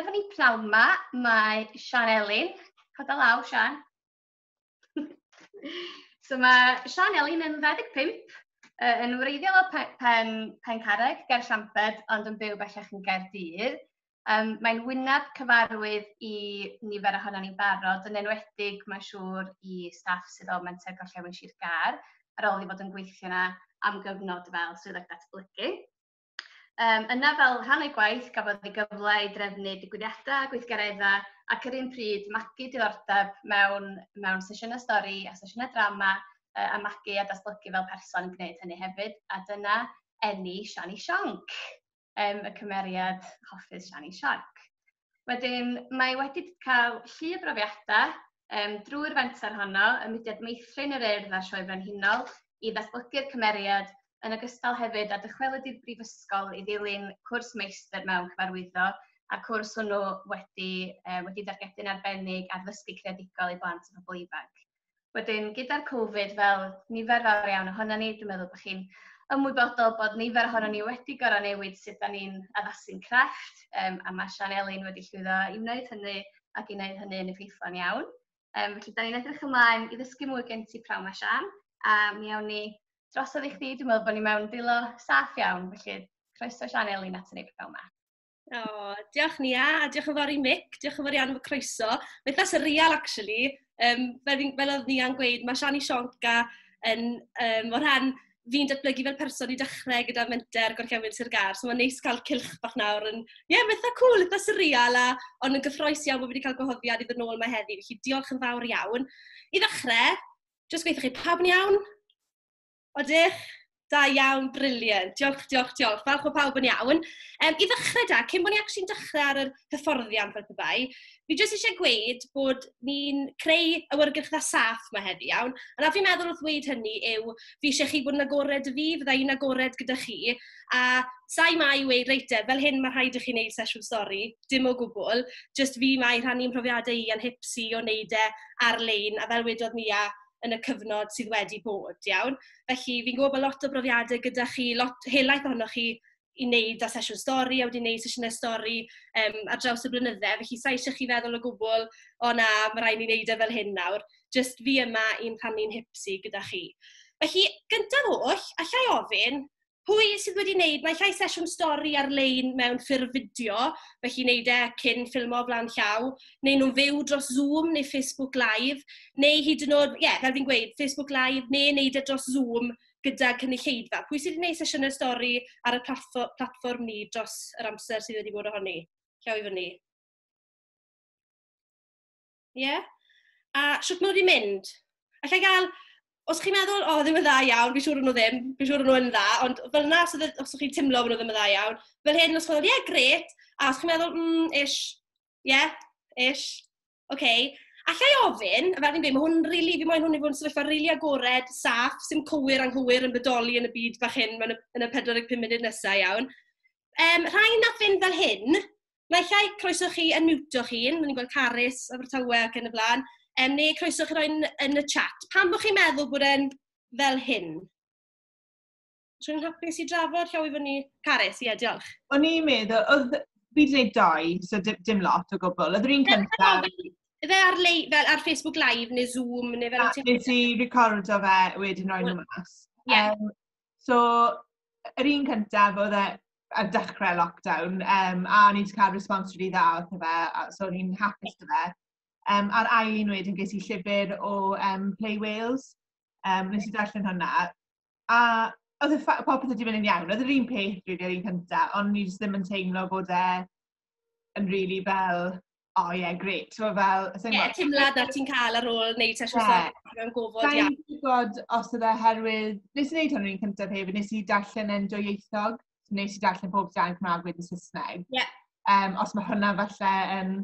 Efo ni pnawn 'ma, mae Sian Elin. Cau dy law, Sian. so mae Sian Elin yn 25, uh, yn wreiddiol o Pen, pen, pen Carreg, ger Llamped, ond yn byw bellach yn Gaerdydd. Um, mae'n wyneb cyfarwydd i nifer ohono ni'n barod, yn enwedig mae'n siŵr i staff sydd o Menter Gorllewin Sir Gar, ar ôl i fod yn gweithio yna am gyfnod fel swyddog datblygu. Um, yna fel rhan o'i gwaith, gafodd ei gyfle i drefnu digwyddiadau, gweithgareddau ac yr un pryd magu diddordeb mewn, mewn sesiynau stori a sesiynau drama uh, a magu a datblygu fel person yn gwneud hynny hefyd. A dyna enni Shani Sionc, um, y cymeriad hoffus Shani Sionc. Wedyn, mae wedi cael llu o brofiadau um, drwy'r fenter honno, y mudiad meithrin yr urdd a'r Sioe Frenhinol, i ddatblygu'r cymeriad, yn ogystal hefyd a dychwelyd i'r brifysgol i ddilyn cwrs meistr mewn cyfarwyddo, a cwrs hwnnw wedi, uh, wedi dargedu'n arbennig ar ddysgu creadigol i blant a phobl ifanc. Wedyn, gyda'r Covid, fel nifer fawr iawn ohono ni, dwi'n meddwl bod chi'n ymwybodol bod nifer ohono ni wedi gorau newid sut da ni'n addasu'n crefft, um, a mae Sian Elin wedi llwyddo i wneud hynny ac i wneud hynny yn effeithlon iawn. Um, felly, da ni'n edrych ymlaen i ddysgu mwy gen ti prawn mae Sian, a mi awn ni dros i chdi, dwi'n meddwl bod ni mewn dwylo saff iawn, felly croeso Sian Elin at ni prawn mae. O, oh, diolch Nia, a diolch yn fawr i Mick, diolch yn fawr iawn am y croeso. Mae eitha surreal, actually. Um, fel, fel oedd Nia'n gweud, mae Shani Sionca yn, um, o rhan fi'n datblygu fel person i dechrau gyda menter gorllewin Sir Gar. So mae'n neis cael cilch bach nawr yn... Ie, yeah, mae'n eitha cool, eitha surreal, a, ond yn gyffroes iawn bod wedi cael gwahoddiad i ddod nôl mae heddi. Felly diolch yn fawr iawn. I ddechrau, jyst gweithio chi pawb yn iawn? Odych, da iawn, briliant. Diolch, diolch, diolch. Falch o pawb yn iawn. Um, I ddechrau da, cyn bod ni actually'n dechrau ar yr hyfforddiant fel pebai, fi jyst eisiau gweud bod ni'n creu awyrgylchfa saff mae heddi iawn. A na fi'n meddwl wrth ddweud hynny yw, fi eisiau chi bod yn agored y fi, fydda i'n agored gyda chi. A sa'i mai i weud, reit e, fel hyn mae rhaid i chi wneud sesiwn stori, dim o gwbl. Jyst fi mai rhannu mhrofiadau i a'n hipsi o wneud e ar-lein, a fel wedodd ni a yn y cyfnod sydd wedi bod, iawn. Felly, fi'n gwybod bod lot o brofiadau gyda chi, lot helaeth ohonoch chi i wneud â sesiwn stori a wedi wneud sesiynau stori um, ar draws y blynydde. Felly, sa'i eisiau chi feddwl o gwbl, o na, mae rhaid ni wneud e fel hyn nawr. Just fi yma i'n rhannu'n hipsi gyda chi. Felly, gyntaf oll, allai ofyn, Pwy sydd wedi wneud, mae llai sesiwn stori ar-lein mewn ffurf fideo, felly wneud e cyn ffilmo flan llaw, neu nhw'n fyw dros Zoom neu Facebook Live, neu hyd yn oed, ie, yeah, fel fi'n gweud, Facebook Live, neu wneud e dros Zoom gyda cynulleidfa. Pwy sydd wedi gwneud sesiynau stori ar y platfform ni dros yr amser sydd wedi bod ohoni? Llaw i fyny. Ie? Yeah? A sut maen nhw wedi mynd? Alla i gael, os chi'n meddwl, o, oh, ddim yn dda iawn, fi'n siŵr nhw ddim, fi'n siŵr nhw yn dda, ond fel yna, os, os chi'n teimlo bod nhw ddim yn dda iawn, fel hyn, os chi'n meddwl, ie, yeah, gret, a os chi'n meddwl, mm, ish, ie, yeah, ish, oce, okay. Alla i ofyn, a fel fi'n dweud, mae hwn rili, really, fi moyn hwn i fod yn sefyllfa rili really agored, saff, sy'n cywir anghywir yn bodoli yn y byd bach hyn, yn y, yn y 45 munud nesaf iawn. Um, rhai na fynd fel hyn, Naill ai croeso chi yn miwto'ch hun, ni'n gweld Carys, Abertawe ac yn y blaen, um, neu croeso chi roi'n yn y chat. Pam bod chi'n meddwl bod e'n fel hyn? Rwy'n hapus i drafod llaw i fyny. Carys, ie, diolch. O'n i'n meddwl, oedd fi wedi gwneud dau, so dim lot o gwbl. Oedd yr un cyntaf... Fe ar, lei, fel ar Facebook Live neu Zoom neu fel... Nes i recordo fe wedyn roi'n nhw mas. Yeah. Um, So, yr un cyntaf oedd e ar dechrau lockdown, um, a o'n i wedi cael response rili dda o fe, a so o'n i'n hapus o fe. Um, a'r ail un wedyn ges i llyfr o um, Play Wales, um, nes i darllen hwnna. A oedd y popeth wedi mynd yn iawn, oedd yr un peth rili ar un cyntaf, ond ni ddim yn teimlo bod e yn really fel, oh yeah, great. So, fel, Ie, yeah, teimlad na ti'n cael ar ôl wneud sesiwn yeah. safon mewn gofod. Sa'n yeah. gwybod os oedd e herwydd, nes i wneud hwn rwy'n cyntaf hefyd, nes i darllen yn dwyieithog, nes i darllen pob dan Cymraeg wedyn Saesneg. Yeah. Um, os mae hwnna falle yn um,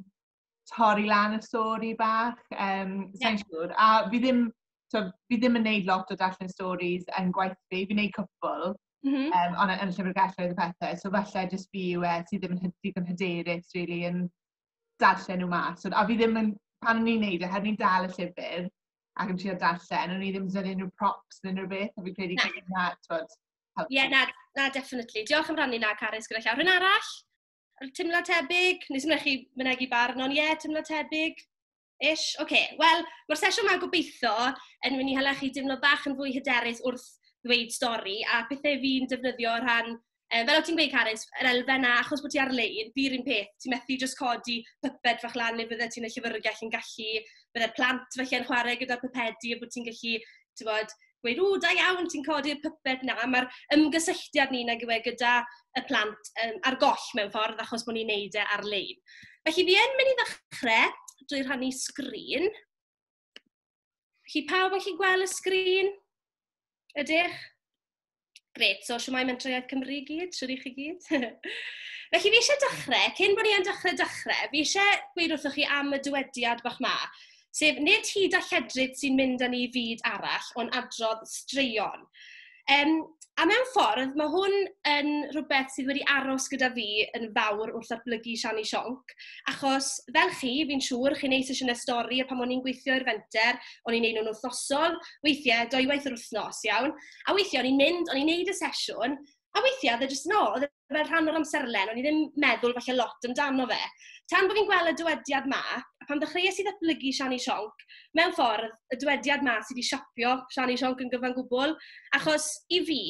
torri lan y stori bach, um, sa'n yeah. siŵr. A fi ddim, so, fi ddim yn neud lot o darllen stories yn gwaith fi, fi'n neud cwpl, Mm -hmm. um, ond yn llyfrgelloedd y pethau. So falle jyst fi yw e sydd ddim yn digon hyderus, really, yn darllen nhw mas. A fi ddim yn, pan o'n i'n neud e, heb ni'n dal y llyfr, ac yn trio darllen, o'n i ddim yn dweud unrhyw props neu unrhyw beth, a fi credu gael ei na, twod, helpu. Ie, na, na, definitely. Diolch am rannu na, Carys, gyda llaw. Rhyn arall, teimlo tebyg, nes ymwneud chi mynegu barn, ond ie, teimlo tebyg. Ish? Ok. Wel, mae'r sesiwn 'ma gobeitho yn mynd i hala chi deimlo bach yn fwy hyderus wrth ddweud stori a pethe fi'n defnyddio o rhan, yy, fel o't ti'n gweud Carys, yr elfen 'na, achos bod ti ar-lein, fi'r un peth, ti methu jyst codi pyped fach lan neu fyddet ti'n y llyfyrgell yn gallu... bydde'r plant falle'n chwarae gyda'r pypedi a bod ti'n gallu, ti'n gwybod, gweud, ww, da iawn, ti'n codi'r pyped 'na. Mae'r ymgysylltiad ni nag yw e gyda y plant yym ar goll mewn ffordd, achos bod ni'n wneud e ar-lein. Felly, fi yn mynd i ddechrau drwy rhannu sgrin. Felly, pawb yn gallu gweld y sgrin? Ydych? Gret, so siwmai Mentrau Iaith Cymru i gyd, siwr i chi gyd. Felly fi eisiau dechrau, cyn bod ni yn dechrau dechrau, fi eisiau gweud wrthych chi am y dywediad bach ma, sef nid hyd a lledryd sy'n mynd â ni i fyd arall, ond adrodd straeon. Um, a mewn ffordd, mae hwn yn rhywbeth sydd wedi aros gyda fi yn fawr wrth arblygu Siani Sionc, achos fel chi, fi'n siŵr, chi'n neud sesiynau stori, a pan o'n i'n gweithio i'r fenter, o'n i'n neud nhw'n wythnosol, weithiau, dwy waith yr wythnos, iawn? A weithiau o'n i'n mynd, o'n i'n wneud y sesiwn, a weithiau oedd e jyst 'no, oedd e fel rhan o'r amserlen, o'n i ddim meddwl falle lot amdano fe. Tan bod fi'n gweld y dywediad 'ma, a pan ddechreuais i ddatblygu Siani Sionc, mewn ffordd, y dywediad 'ma sy 'di siapio Siani Sionc yn gyfan gwbl, achos i fi,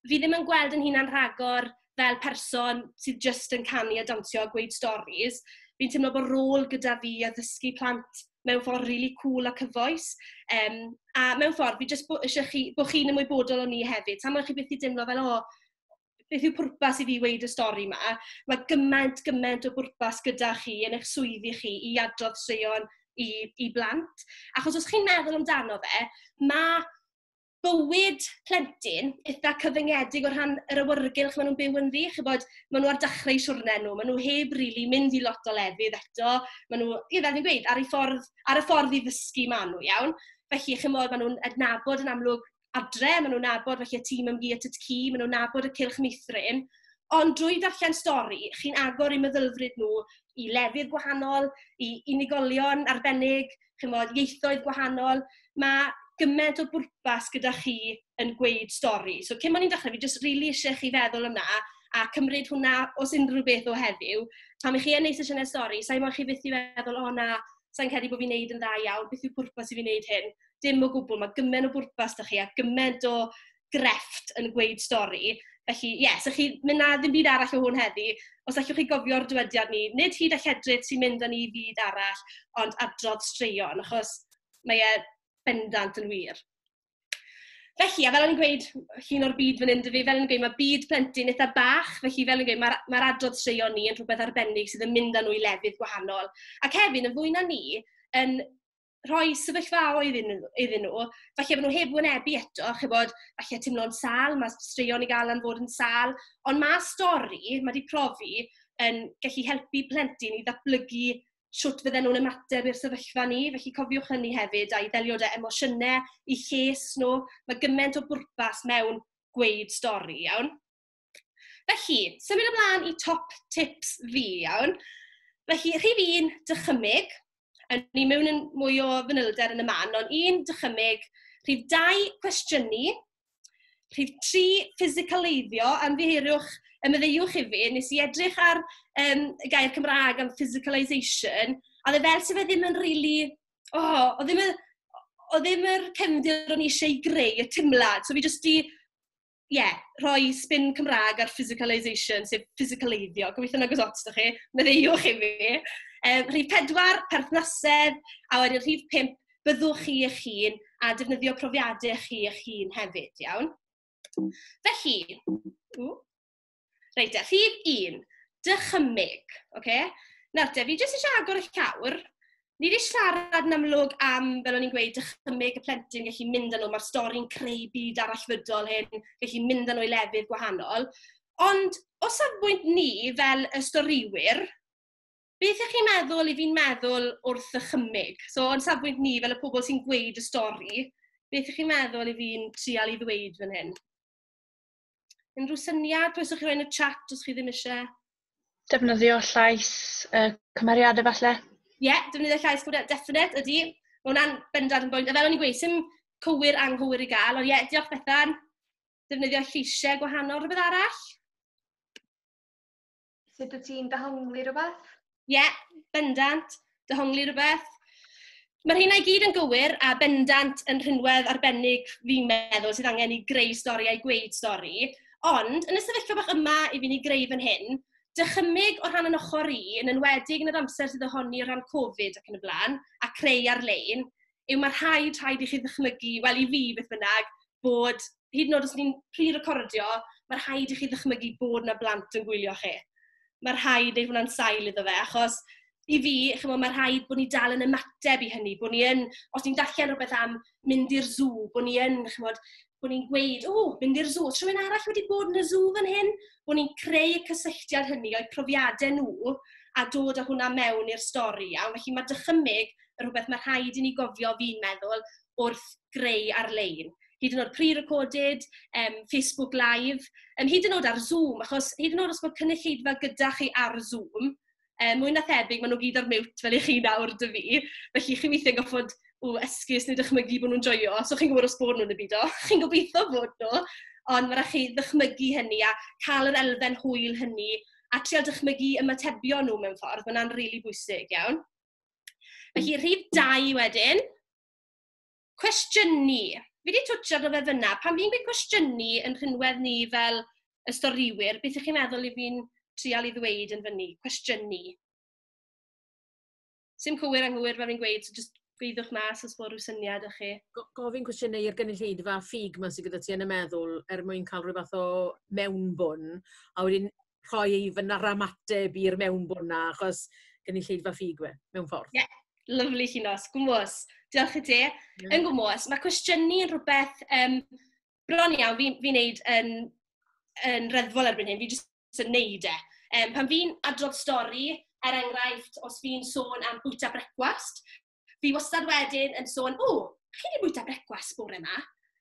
fi ddim yn gweld yn hunan rhagor fel person sydd jyst yn canu a dawnsio a gweud storis, fi'n teimlo bod rôl gyda fi i addysgu plant mewn ffordd rili really cŵl a cyfoes. Um, a mewn ffordd, fi jyst eisiau chi, bod chi'n ymwybodol o'n ni hefyd. Tam chi beth i deimlo fel, o, oh, beth yw pwrpas i fi weid y stori yma? Mae gymaint, gymaint o bwrpas gyda chi yn eich swyddi chi i adrodd straeon i, i blant. Achos os chi'n meddwl amdano fe, mae bywyd plentyn eitha cyfyngedig o rhan yr awyrgylch maen nhw'n byw ynddi. Chibod, maen nhw ar dechrau siwrne nhw, maen nhw heb rili really mynd i lot o lefydd eto. Maen nhw, ie, fel fi'n gweud, ar, ffordd, ar y ffordd i ddysgu maen nhw, iawn. Felly, chymod, maen nhw'n adnabod yn amlwg adre, maen nhw'n nabod felly y tîm ymgi at y tci, maen nhw'n nabod y cilch meithrin. Ond drwy darllen stori, chi'n agor i meddylfryd nhw i lefydd gwahanol, i unigolion arbennig, chymod, ieithoedd gwahanol. Mae gymaint o bwrpas gyda chi yn gweud stori. So cyn bod ni'n dechrau, fi jyst rili really eisiau chi feddwl yna a cymryd hwnna os unrhyw beth o heddiw. Pan ych chi yn ei sesiynau stori, sa'n modd chi fyth i feddwl, o oh, na, sa'n credu bod fi'n neud yn dda iawn, beth yw pwrpas i fi wneud hyn? Dim o gwbl, mae gymaint o bwrpas da chi a gymaint o grefft yn gweud stori. Felly, ie, yeah, so chi mynd na ddim byd arall o hwn heddi. Os allwch chi gofio'r dywediad ni, nid hyd a lledryd sy'n mynd â ni i fyd arall, ond adrodd straeon, achos mae e bendant yn wir. Felly, a fel yn gweud, llun o'r byd fan hyn, fel yn gweud, mae byd plentyn eitha bach, felly fel yn gweud, mae'r mae adrodd straeon ni yn rhywbeth arbennig sydd yn mynd â nhw i lefydd gwahanol. Ac hefyd, yn fwy na ni, yn rhoi sefyllfa oedd iddyn nhw, falle bod nhw heb wynebu eto, a chybod, falle teimlo'n sal, mae straeon i gael am fod yn sal, ond mae stori, mae wedi profi, yn gallu helpu plentyn i ddatblygu sut fydden nhw'n ymateb i'r sefyllfa ni. Felly cofiwch hynny hefyd, a'i ddelio da emosiynau, i lles nhw. Mae gymaint o bwrpas mewn gweud stori, iawn? Felly, symud ymlaen i top tips fi, iawn. Felly, rhif un, dychymyg. A ni mewn yn mwy o fanylder yn y man, ond un, dychymyg. Rhif dau, cwestiynu. Rhif tri, ffisicaleiddio. Ymddiheuriwch, ymddeiwch i fi, nes i edrych ar um, y gair Cymraeg am physicalisation, a dde fel se fe ddim yn rili... Really, oh, o ddim yn o ddim yr cefndir o'n i eisiau greu, y timlad. So fi jyst di ie, rhoi spin Cymraeg ar physicalisation, sef ffisicaleiddio, gobeithio'n agos ots 'da chi, maddeuwch i fi. Yym, rhif pedwar, perthnasedd, a wedyn rhif pump, byddwch chi eich hun, a defnyddio profiadau chi eich hun hefyd, iawn? Felly, ww, Reit e, rhif un, dychymyg. Okay? Nawr te, fi jyst eisiau agor y llawr. Ni wedi siarad yn amlwg am, fel o'n i'n gweud, dychymyg y plentyn, gallu mynd â nhw, mae'r stori'n creu byd arallfydol hyn, gallu mynd â nhw i lefydd gwahanol. Ond o safbwynt ni fel y storiwyr, beth ych chi'n meddwl i fi'n meddwl wrth y chymig? So, o'n safbwynt ni fel y pobl sy'n gweud y stori, beth ych chi'n meddwl i fi'n trial i ddweud fan hyn? Unrhyw syniad, croeso chi roi yn y chat os chi ddim eisiau. Defnyddio llais uh, cymeriadau falle? Ie, yeah, defnyddio llais cymeriadau, definite, ydy. Mae hwnna'n bendant yn bwynt. A fel o'n i'n gweud, sy'n cywir anghywir i gael, ond ie, yeah, diolch Bethan. Defnyddio lleisiau gwahanol, rhywbeth arall? sut wyt ti'n dehongli rhywbeth? Ie, yeah, bendant, dehongli rhywbeth. Mae'r hynna i gyd yn gywir a bendant yn rhinwedd arbennig fi'n meddwl sydd angen i greu stori a'i gweud stori. Ond, yn y sefyllfa bach yma i fi'n ei greu fan hyn, dychymyg o rhan yn ochr i, yn enwedig yn yr amser sydd ohoni o rhan Covid ac yn y blaen, a creu ar-lein, yw mae rhaid, rhaid i chi ddychmygu, wel i fi beth bynnag, bod hyd yn oed os ni'n pre-recordio, mae rhaid i chi ddychmygu bod 'na blant yn gwylio chi. Mae rhaid wneud hwnna'n sail iddo fe, achos i fi, chimod, mae rhaid bod ni dal yn ymateb i hynny, bod ni yn, os ni'n darllen rhywbeth am mynd i'r sŵ, bod ni yn, chimod, bod ni'n gweud, o, mynd i'r sŵ, os rhywun arall wedi bod yn y sŵ fan hyn, bod ni'n creu y cysylltiad hynny o'i profiadau nhw a dod â hwnna mewn i'r stori iawn. Felly mae dychymyg rhywbeth ma' rhaid i ni gofio, fi'n meddwl, wrth greu ar-lein. Hyd yn oed pre-recorded, yym, Facebook Live, yym, hyd yn oed ar Zoom, achos hyd yn oed os bod cynulleidfa gyda chi ar Zoom, yym, mwy na thebyg, maen nhw gyd ar mute fel 'y chi nawr 'da fi, felly chi weithiau'n gorfod, ww, esgus neu dychmygu bod nhw'n joio, so chi'n gwybod os bod nhw'n y byd, chi'n gobeitho bod nhw, ond ma' raid chi ddychmygu hynny a cael yr elfen hwyl hynny a trio dychmygu ymatebion nhw mewn ffordd, ma' hwnna'n rili bwysig iawn. Felly, rhif dau wedyn. Cwestiynu. Fi wedi twtio ddo fe fyna. Pan fi'n gweud cwestiynu yn rhywedd ni fel y storiwyr, beth ych chi'n meddwl i fi'n trial i ddweud yn fyny? Cwestiynu. Sim cywir anghywir fe fi'n gweud, so just gweithwch mas os bod rhyw syniad ych chi. Gofyn cwestiynau i'r gynulleidfa ffug ma sydd gyda ti yn y meddwl er mwyn cael rhywbeth o mewnbwn, a wedyn rhoi fy naramateb i'r mewnbwn 'na, achos gynulleidfa ffug yw e, mewn ffordd. Ie, yeah. lyflu Llinos, gwmwys. Diolch i ti. Yeah. Yn gwmwys, mae cwestiynu yn rhywbeth um, bron iawn fi'n fi wneud yn, yn reddfol erbyn hyn, fi jyst yn wneud e. Um, pan fi'n adrodd stori, er enghraifft, os fi'n sôn am bwyta brecwast, Fi wastad wedyn yn sôn, o, chi wedi bwyta brecwast bore yma?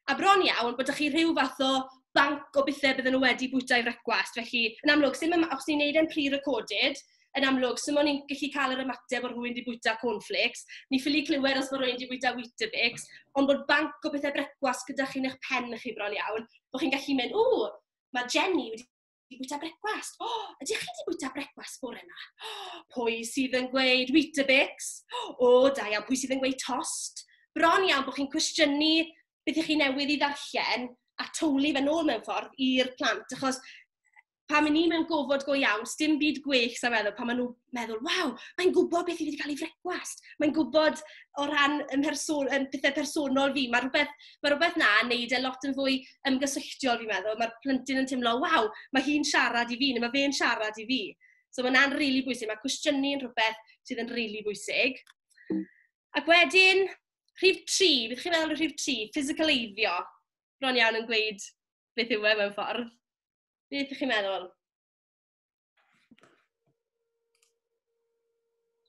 A bron iawn bod chi rhyw fath o banc o bethau bydden nhw wedi bwyta i frecwast. Felly, yn amlwg, sim yma, os ni'n neud e'n pre-recorded, yn amlwg, sim ond ni'n gallu cael yr ymateb bod rhywun wedi bwyta cornflakes. Ni'n ffili clywed os bod rhywun wedi bwyta Weetabix, ond bod banc o bethau brecwast gyda chi yn eich pen chi bron iawn, bod chi'n gallu mynd, o, mae Jenny wedi di bwyta brecwast. O, oh, ydych chi di bwyta brecwast bore yma? Oh, pwy sydd yn gweud Weetabix? O, oh, da iawn, pwy sydd yn gweud tost? Bron iawn bod chi'n cwestiynu beth ych chi newydd i ddarllen a tywlu fe nôl mewn ffordd i'r plant, achos pan mynd ni mewn gofod go iawn, dim byd gwech sa'n meddwl, pan maen nhw'n meddwl, waw, mae'n gwybod beth i wedi cael ei frecwast. Mae'n gwybod o ran yn person, yn pethau personol fi. Mae rhywbeth, mae rhywbeth na yn neud e lot yn fwy ymgysylltiol, fi'n meddwl. Mae'r plentyn yn teimlo, waw, mae hi'n siarad i fi, neu mae fe'n siarad i fi. So mae hwnna'n rili really bwysig. Mae cwestiynu yn rhywbeth sydd yn rili really bwysig. Ac wedyn, rhif tri, beth chi'n meddwl o rhif tri? Physicaleiddio. Bron iawn yn gweud beth yw e mewn ffordd. Beth ydych chi'n meddwl?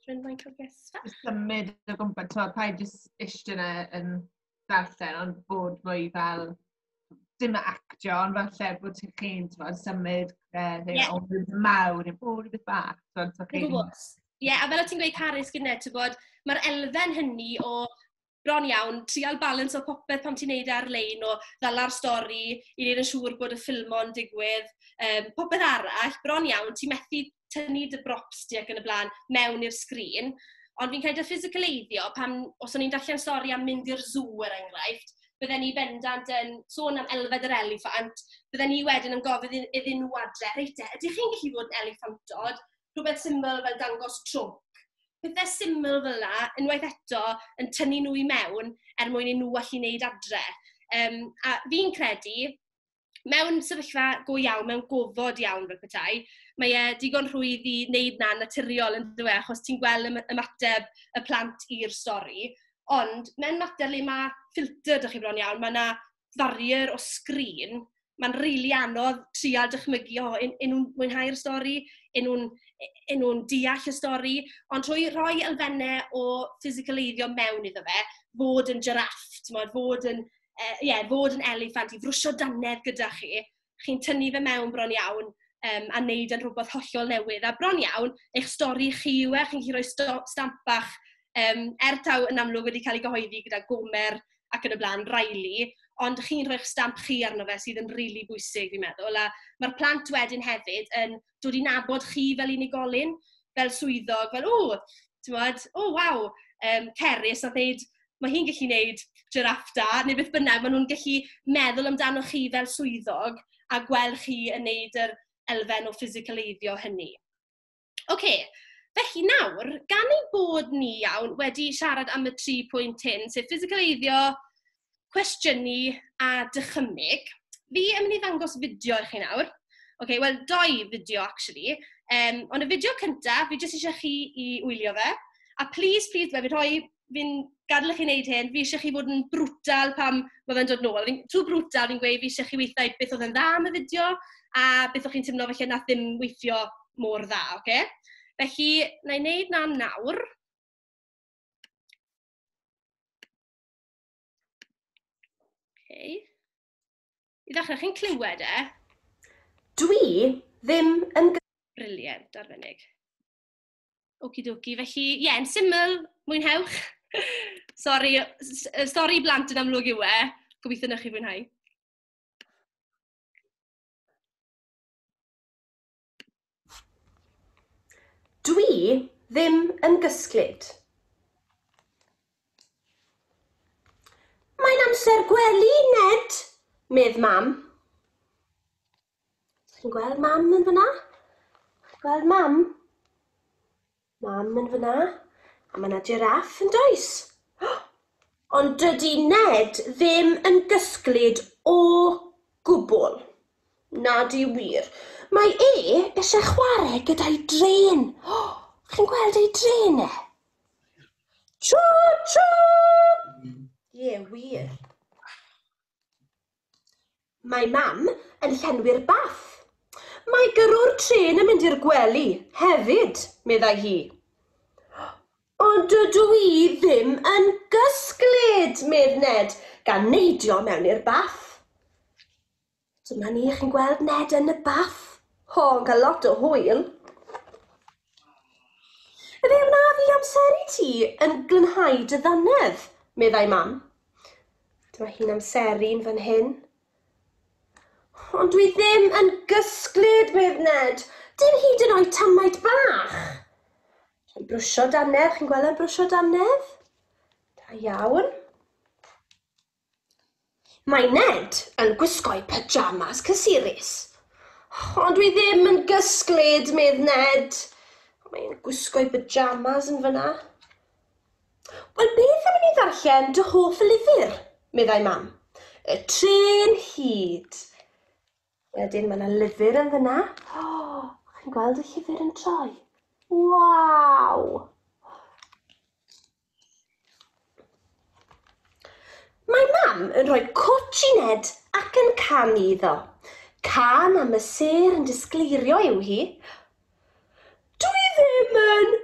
Rwy'n fain cael gesta. Symud o gwmpas, ti'n pa i jyst eistedd yna yn darllen, ond bod fwy fel dim actio, ond fel lle bod ti'n chi'n symud eh, yeah. o rhywbeth mawr i'n bod rhywbeth bach. Ie, yeah, a fel o ti'n gweud Harris gyda, ti'n bod, mae'r elfen hynny o bron iawn, trial balansio popeth pan ti'n neud e ar-lein o ddala'r stori i wneud yn siŵr bod y ffilmo'n digwydd, um, popeth arall, bron iawn, ti'n methu tynnu dy brops di ac yn y blaen mewn i'r sgrin. Ond fi'n credu ffisicaleiddio, pan, os o'n i'n darllen stori am mynd i'r sŵ er enghraifft, bydden ni bendant yn sôn am elfed yr eliffant, bydden ni wedyn yn gofyn iddyn nhw adre, reit e, ydych chi'n gallu bod yn eliffantod? rhywbeth syml fel dangos trwc. Pethe syml fel 'na, unwaith eto, yn tynnu nhw i mewn er mwyn i nhw allu wneud adre. Um, a fi'n credu, mewn sefyllfa go iawn, mewn gofod iawn fel petai, mae e digon rhwydd i wneud na naturiol yn dweud, achos ti'n gweld ymateb y plant i'r stori. Ond, mewn mater le mae ffilter, dych chi bron iawn, mae yna farrier o sgrin, mae'n rili really anodd trial dychmygu, o, yn, yn nhw'n mwynhau'r stori, yn nhw'n yn nhw deall y stori, ond trwy rhoi elfennau o ffisicaleiddio mewn iddo fe, fod yn jiraff, fod yn, uh, yeah, fod yn eliffant, i frwsio danedd gyda chi, chi'n tynnu fe mewn bron iawn um, a wneud yn rhywbeth hollol newydd. A bron iawn, eich stori chi yw e, chi'n gallu rhoi sto, stamp bach um, er taw yn amlwg wedi cael ei gyhoeddi gyda Gomer ac yn y blaen, Riley, ond chi'n rhoi'ch stamp chi arno fe sydd yn rili really bwysig, fi'n meddwl. A mae'r plant wedyn hefyd yn dod i nabod chi fel unigolyn, fel swyddog, fel, o, ti'n bod, o, waw, um, Cerys, a ddeud, mae hi'n gallu gwneud giraff da, neu beth bynnag, maen nhw'n gallu meddwl amdano chi fel swyddog a gweld chi yn gwneud yr elfen o ffisicaleiddio hynny. Oce, okay. felly nawr, gan ei bod ni iawn wedi siarad am y tri pwynt hyn, sef ffisicaleiddio, cwestiynu a dychymyg. Fi yn mynd i ddangos fideo i chi nawr. OK, wel, doi fideo, actually. Um, ond y fideo cyntaf, fi jyst eisiau chi i wylio fe. A please, please, fe fi rhoi, fi'n gadael i chi wneud hyn, fi eisiau chi fod yn brwtal pam mae fe'n dod nôl. Fi'n tŵ brwtal, fi'n gweud fi eisiau chi weithio beth oedd yn dda am y fideo a beth o'ch chi'n teimlo felly na ddim weithio mor dda, oce? Okay? Felly, na i wneud na nawr. Okay. I ddechrau, chi'n clywed e? Dwi ddim yn... Briliant, arbennig. Oki doki, felly, ie, yeah, yn syml, mwynhewch. Sorry, sorry blant yn amlwg yw e. Gobeithio na chi fwynhau. Dwi ddim yn gysglyd. Mae'n amser gwely, Ned, medd mam. Ti'n gweld mam yn fyna? Gweld mam? Mam yn fyna. A mae yna jiraff yn does? Ond dydy Ned ddim yn gysglyd o gwbl. Na di wir. Mae e eisiau chwarae gyda'i dren. Chi'n gweld ei dren e? Tro, tro! Ie, wir. Mae Mam yn llenwi'r bath. Mae gyrrwr trên yn mynd i'r gwely, hefyd, meddai hi. Ond dydw i ddim yn gysglyd, medd Ned, gan neidio mewn i'r bath. Dyma ni, chi'n gweld Ned yn y bath. Ho, yn cael lot o hwyl. Fe wnaf i amseru ti yn glynhau dy ddannedd, meddai Mam. Dyma hi'n amseru'n fan hyn. Ond dwi ddim yn gysglyd, medd Ned. Dim hyd yn oed tamaid bach. Rhaid brwsio dannedd, chi'n gweld e'n brwsio dannedd? Da iawn. Mae Ned yn gwisgo'i pyjamas cysurus. Ond dwi ddim yn gysglyd, medd Ned. Mae'n gwisgo'i pyjamas yn fyna. Wel, beth am i ni ddarllen dy hoff lyfr? meddai Mam. Y trên hud. Wedyn mae yna lyfr yn fyna. O, oh, chi'n gweld y llyfr yn troi? Waw! Mae Mam yn rhoi cwtsh i Ned ac yn canu iddo. Can am y sêr yn disgleirio yw hi, Dw i ddim yn!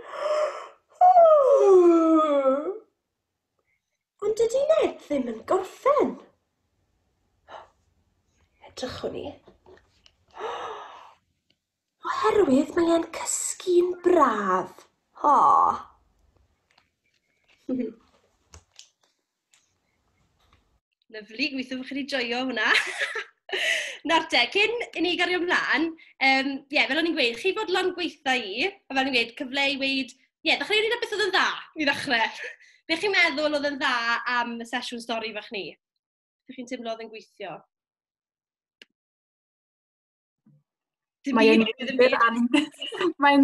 Ond dydy Ned ddim yn gorffen. Edrychwn i. Oherwydd mae e'n cysgu'n braf. O! Lyflu, gweithio bod chi wedi joio hwnna. Nawr te, cyn i ni gario ymlaen, um, yeah, fel o'n i'n gweud, chi fod lan gweitha i, a fel o'n i'n gweud, cyfle i weid, ie, yeah, ddechrau wneud beth oedd yn dda i ddechrau. Be chi'n meddwl oedd yn dda am y sesiwn stori fach ni? Be chi'n teimlo oedd yn gweithio? Mae'n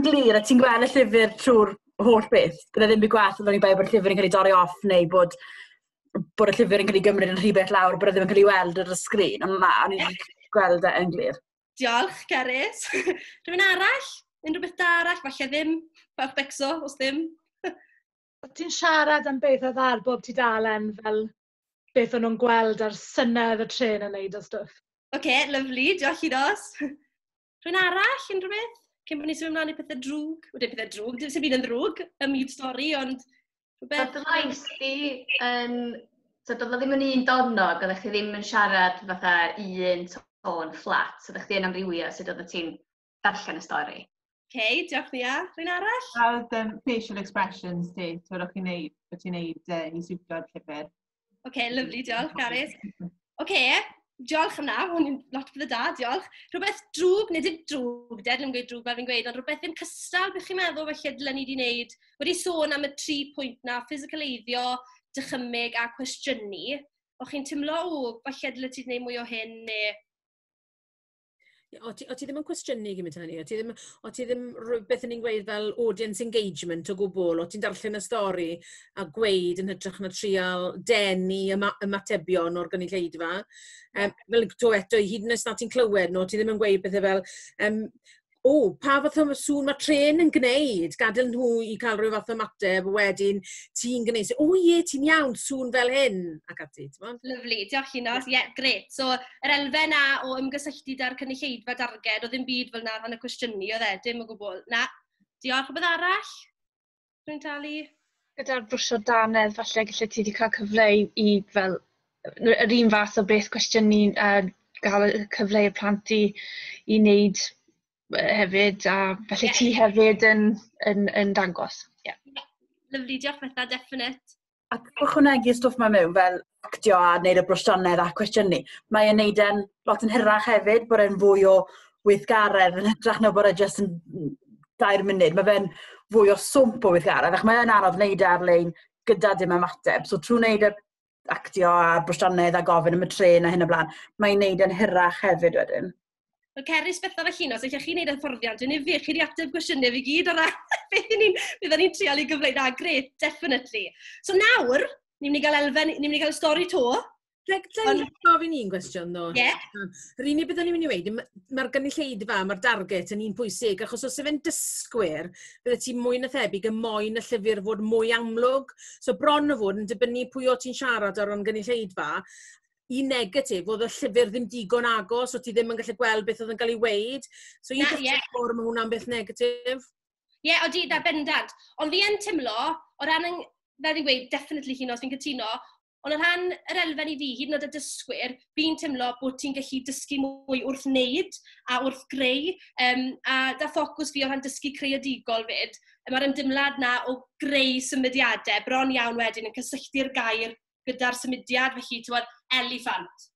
glir, a ti'n gweld y llyfr trwy'r holl beth. Bydd e ddim byd gwaith yn dod i bod y llyfr yn cael ei dorri off neu bod bod y llyfr yn cael ei gymryd yn rhy bell lawr, bod e ddim yn cael ei weld ar y sgrin. Ond na, o'n i'n gweld e yn glir. Diolch, Cerys. Rhywun arall? Unrhyw beth da arall? Falle ddim. Fawch becso, os ddim. Ti'n siarad am beth oedd ar bob ti dalen fel beth o'n nhw'n gweld a'r synnau oedd y trên yn neud a stwff. Oce, lyfli, diolch i Ros. Rwy'n arall, unrhyw beth? Cyn bod ni'n symud ymlaen i pethau drwg, wedi pethau drwg, dim sy'n byd yn drwg, y mute story, ond rhywbeth... But lais di, um, so doedd ddim yn un dornog, oeddech chi ddim yn siarad fatha un tôn fflat, oeddech chi yn amrywio sut oeddech ti'n darllen y stori. OK, diolch Lia. Rwy'n arall? A oedd um, facial expressions ti, ti'n meddwl chi'n neud, bod ti'n neud uh, i siwtio'r llyfr? OK, lyflu, diolch, Gareth. OK, diolch am na, hwn i'n lot bydd y da, diolch. Rhywbeth drwg, nid yn drwg, ded yn gweud drwg fel fi'n gweud, ond rhywbeth ddim cystal, bych chi'n meddwl felly dylen ni wedi wneud, wedi sôn am y tri pwynt na, ffisicaleiddio, dychymyg a cwestiynu. O chi'n tymlo, o, falle dylen ti wedi gwneud mwy o hyn, neu O ti, o ti ddim yn cwestiynu gymryd hynny, o ti ddim, o ti ddim rhywbeth yn ni'n gweud fel audience engagement o gwbl, o ti'n darllen y stori a gweud yn hytrach na trial denu yma, ymatebion o'r gynulleidfa. Um, fel to eto, hyd yn oes na ti'n clywed nhw, ti ddim yn gweud bethau fel, um, o, pa fath o sŵn mae tren yn gwneud, gadael nhw i cael rhyw fath o mateb, wedyn ti'n gwneud, o ie, ti'n iawn, sŵn fel hyn, ac ati. Lyflu, diolch i nos, ie, yeah, gret. So, yr elfen na o ymgysylltu da'r cynulleidfa darged, oedd ddim byd fel na rhan y cwestiynu, oedd e, dim o gwbl. Na, diolch, rhywbeth arall? Rwy'n talu? Gyda'r brwsio danedd, falle gallu ti wedi cael cyfle i, i fel, yr un fath o beth cwestiynu a uh, gael y cyfle i'r plant i, i wneud hefyd, a felly yeah. ti hefyd yn, yn, yn dangos. Yeah. yeah. Lyflu, diolch Betha, definite. ac ychwanegu stwff ma mewn fel actio a neud y brosianedd a cwestiynu. Mae e'n neud e'n lot yn hirach hefyd, bod e'n fwy o weithgaredd yn hytrach na bod e jyst yn dair munud. Mae fe'n fwy o swmp o weithgaredd, ac mae'n anodd wneud e ar-lein gyda dim ymateb. So trwy wneud y actio a brosianedd a gofyn am y tren a hyn o blaen, mae'n neud e'n hirach hefyd wedyn. Wel, Cerys, Bethan a Llinos, allech chi wneud hyfforddiant yn ufu chi wedi ateb gwestiynau fi gyd o ran beth ni'n byddwn ni'n treol i gyfleu. Na, gret, definitely. So nawr, ni'n mynd i gael elfen, ni'n mynd i gael stori to. Rhaid dweud gofyn un gwestiwn ddo. Ie. Yeah. Rhi ni byddwn ni'n mynd i weid, mae'r gynulleidfa, mae'r darget yn un pwysig, achos os efen dysgwyr, bydde ti mwy na thebyg y moyn y llyfr fod mwy amlwg. So bron o fod yn dibynnu pwy o ti'n siarad ar o'n gynulleidfa, un negatif, oedd y llyfr ddim digon agos, o ti ddim yn gallu gweld beth oedd yn cael ei weid. So un peth yeah. o'r mae hwnna'n beth negatif. Ie, yeah, o di, da bendant. Ond fi yn tymlo, o ran, yn, fel fi'n gweud, definitely hyn os fi'n cytuno, ond o ran yr elfen i fi, hyd yn oed y dysgwyr, fi'n tymlo bod ti'n gallu dysgu mwy wrth wneud a wrth greu, um, a da ffocws fi o ran dysgu creadigol fyd, mae'r ymdymlad na o greu symudiadau bron iawn wedyn yn cysylltu'r gair gyda'r symudiad, felly, ti'n gwybod, eliffant.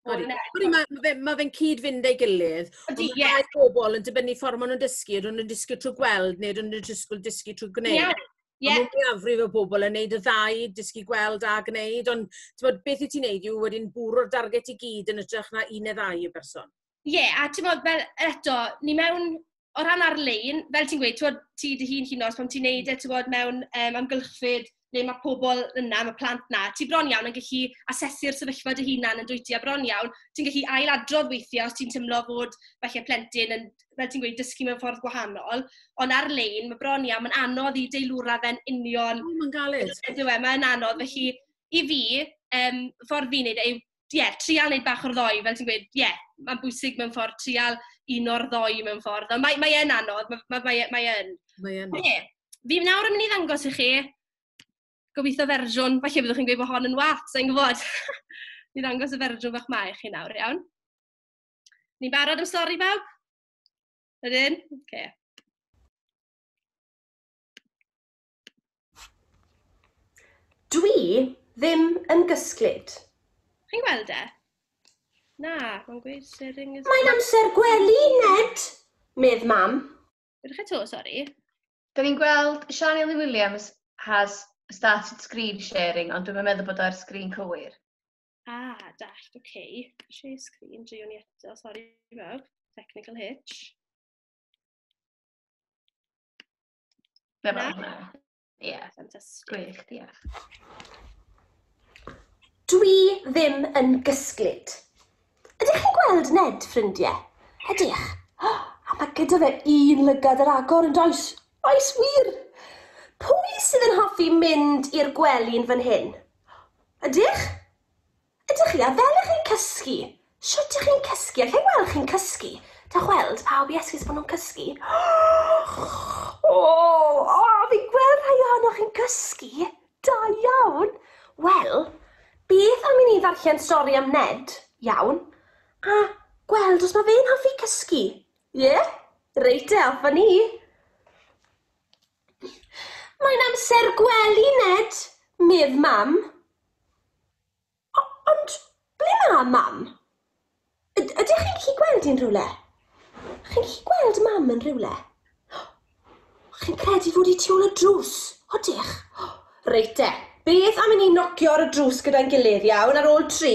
Odi, odi mae ma fe'n ma fe cyd-fynd ei gilydd. Odi, ie. Mae pobl yn dibynnu ffordd maen nhw'n dysgu, ydyn nhw'n dysgu trwy gweld neu ydyn nhw'n dysgu, dysgu trwy gwneud. Ie. Yeah. Yeah. Mae mwyafrif o bobl yn neud y ddau, dysgu gweld a gwneud, ond bod, beth i ti'n neud yw wedyn bwrw'r darget i gyd yn ytrach na un neu ddau y berson. Ie, a ti'n bod, fel eto, ni mewn o ran ar-lein, fel ti'n gweud, ti'n ti dy hun hyn os pan ti'n neud e, ti'n bod, mewn um, amgylchfyd le mae pobl yna, mae plant na, ti bron iawn yn gallu asesu'r sefyllfa dy hunan yn dwyt ti, a bron iawn, ti'n gallu ailadrodd weithiau os ti'n tymlo fod falle plentyn yn, fel ti'n gweud, dysgu mewn ffordd gwahanol, ond ar-lein, mae bron iawn, mae'n anodd i deilwra fe'n union... O, mae'n galed. Mae'n anodd, felly, i fi, um, ffordd fi'n neud e yw ie, trial wneud bach o'r ddoi, fel ti'n gweud, ie, mae'n bwysig mewn ffordd trial un o'r ddoi mewn ffordd. Ond mae, mae e'n anodd, mae, mae, mae, mae e'n. Mae e'n. Ie, fi nawr yn mynd i ddangos i chi, gobeithio fersiwn, falle byddwch chi'n gweud bod hon yn wath, sa'n gwybod. Ni'n ddangos y fersiwn fach mae chi nawr, iawn. Ni'n barod am stori bawb? Ydyn? Oce. Okay. Dwi ddim yn gysglyd. Chi'n gweld e? Na, mae'n gweud sering is... Mae'n amser gwely, Ned, medd mam. Rydych eto, sori. Da ni'n gweld Siani Lee Williams has started screen sharing, ond dwi'n meddwl bod o'r sgrin cywir. Ah, dallt, oce. Okay. Share screen, drio ni eto, sori fawr. Technical hitch. Fe fel yna. Ie. Yeah. Fantastic. Gwych, diolch. Dwi ddim yn gysglyd. Ydych chi'n gweld Ned, ffrindiau? Ydych. Oh, a mae gyda fe un lygad yr agor yn does. Oes wir. Pwy sydd yn hoffi mynd i'r gwely'n fan hyn? Ydych? Ydych chi, a fel ych chi'n cysgu? Shwt ych chi'n cysgu? Alla i weld chi'n cysgu? Dewch weld pawb i esgus bo nhw'n cysgu. O! O! Fi'n gweld rhai ohonoch chi'n cysgu! Da iawn! Wel, beth am i ni ddarllen stori am Ned, iawn, a gweld os ma fe'n hoffi cysgu? Ie? Reit te, off a ni! Mae'n amser gwely, Ned, medd Mam. O- ond ble mae Mam? Yd- ydych chi'n gallu gweld hi'n rhywle? Chi'n gallu gweld Mam yn rhywle? Chi'n credu fod hi tu ôl y drws? Odych? Reit te, beth am i ni nocio ar y drws gyda'n gilydd, iawn, ar ôl tri?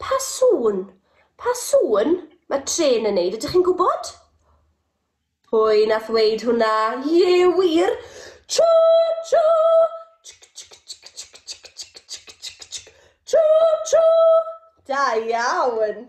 Pa sŵn? Pa sŵn? Mae trên yn neud, ydych chi'n gwybod? Pwy nath ddweud hwnna? Ie, wir! Cho! Cho! Cho! Cho! Da iawn!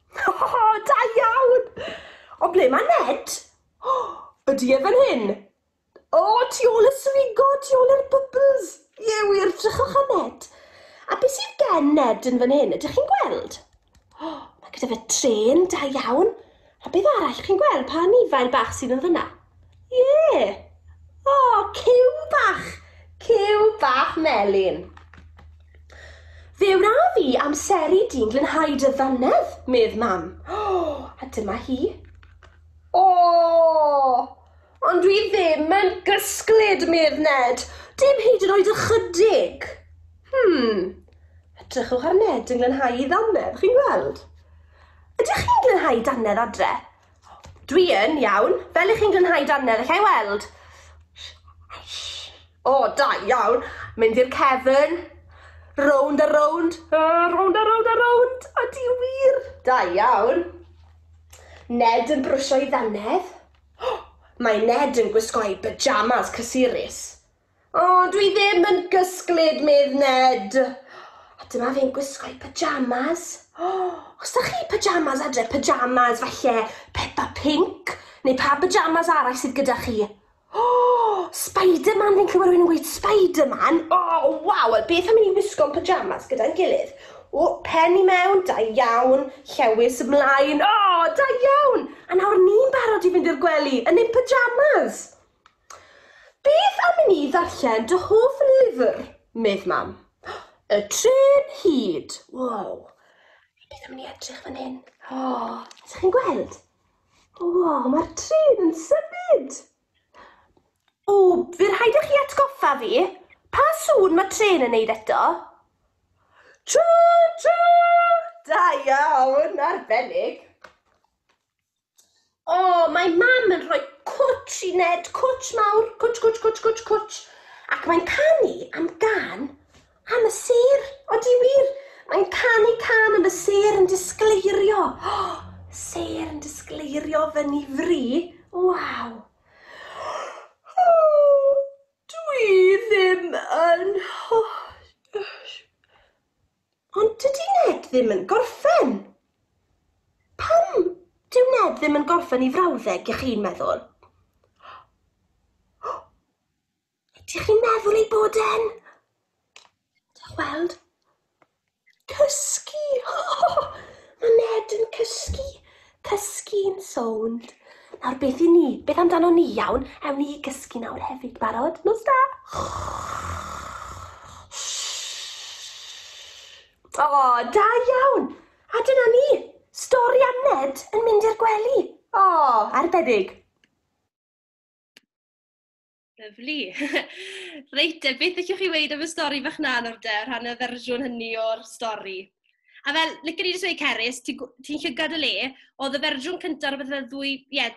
O, da iawn! Ond ble mae Ned? O, ydy e fan hyn? O, tu ôl y swigo, tu ôl yr bubbles! Ie wir, drychwch ar Ned. A beth sydd gen Ned yn fan hyn, ydych chi'n gweld? O, mae gyda fe trên, da iawn. A beth arall chi'n gweld, pa anifail bach sydd yn fyna? Ie! O, cyw bach! Cyw bach melyn! Fe wna fi amseru di'n glynhau dy ddannedd, medd mam. O, a dyma hi. O! Ond dwi ddim yn gysglyd, medd Ned. Dim hyd yn oed ychydig. Hmm. Edrychwch ar Ned yn glynhau i ddannedd, chi'n gweld? Ydych chi'n glynhau dannedd adre? Dwi yn iawn. Fel i chi'n glanhau dannedd, allai weld? O, da iawn. Mynd i'r cefn. Rownd a rownd. Uh, rownd a rownd a rownd. A di wir. Da iawn. Ned yn brwsio'i ddannedd. Oh, mae Ned yn gwisgo'i pyjamas cysurus. O, dwi ddim yn gysglyd, medd Ned. A dyma fe'n gwisgo'i pyjamas. O, os da chi pyjamas adre, pyjamas falle Peppa Pink, neu pa pyjamas arall sydd gyda chi? O, Spider-Man, fi'n clywed rwy'n gweud Spider-Man. O, oh, waw, wel beth am i ni wisgo'n pyjamas gyda'n gilydd? O, pen i mewn, da iawn, llewis ymlaen. O, da iawn! A nawr ni'n barod i fynd i'r gwely, yn ein pyjamas. Beth am i ni ddarllen dy hoff lyfr? medd Mam. Y Trên Hud! Wow! Beth am i ni edrych fan hyn? O! Ydych chi'n gweld? Wow, mae'r trên yn symud! O, fe rhaid i chi atgoffa fi. Pa sŵn mae trên yn neud eto? Choo choo! Da iawn, arbennig! O, mae mam yn rhoi cwtsh i Ned, cwtsh mawr, cwtsh, cwtsh, cwtsh, cwtsh, cwtsh. Ac mae'n canu am gan am y sêr. Odi wir? Mae'n canu can am y sêr yn disgleirio. O, sêr yn disgleirio fyny fri. Waw. O, dwi ddim yn... Ond dydy Ned ddim yn gorffen! Pam dyw Ned ddim yn gorffen 'i frawddeg, y'ch chi'n meddwl? Ydych chi'n meddwl ei bod e'n... Dewch weld. Cysgu! Mae Ned yn cysgu! Cysgu'n sownd. Nawr beth i ni? Beth amdano ni iawn? Ewn ni i gysgu nawr hefyd. Barod? Nos da! O, oh, da iawn! A dyna ni! Stori am Ned yn mynd i'r gwely. O, oh, arbennig! Lyflu. Reit, te, beth ydych chi'n weid am y stori fach na nawr de, rhan y fersiwn hynny o'r stori? A fel, lyc ni jyst weid Cerys, ti'n ti llygad y le, oedd y fersiwn cyntaf rhywbeth fel ddwy, ie, yeah,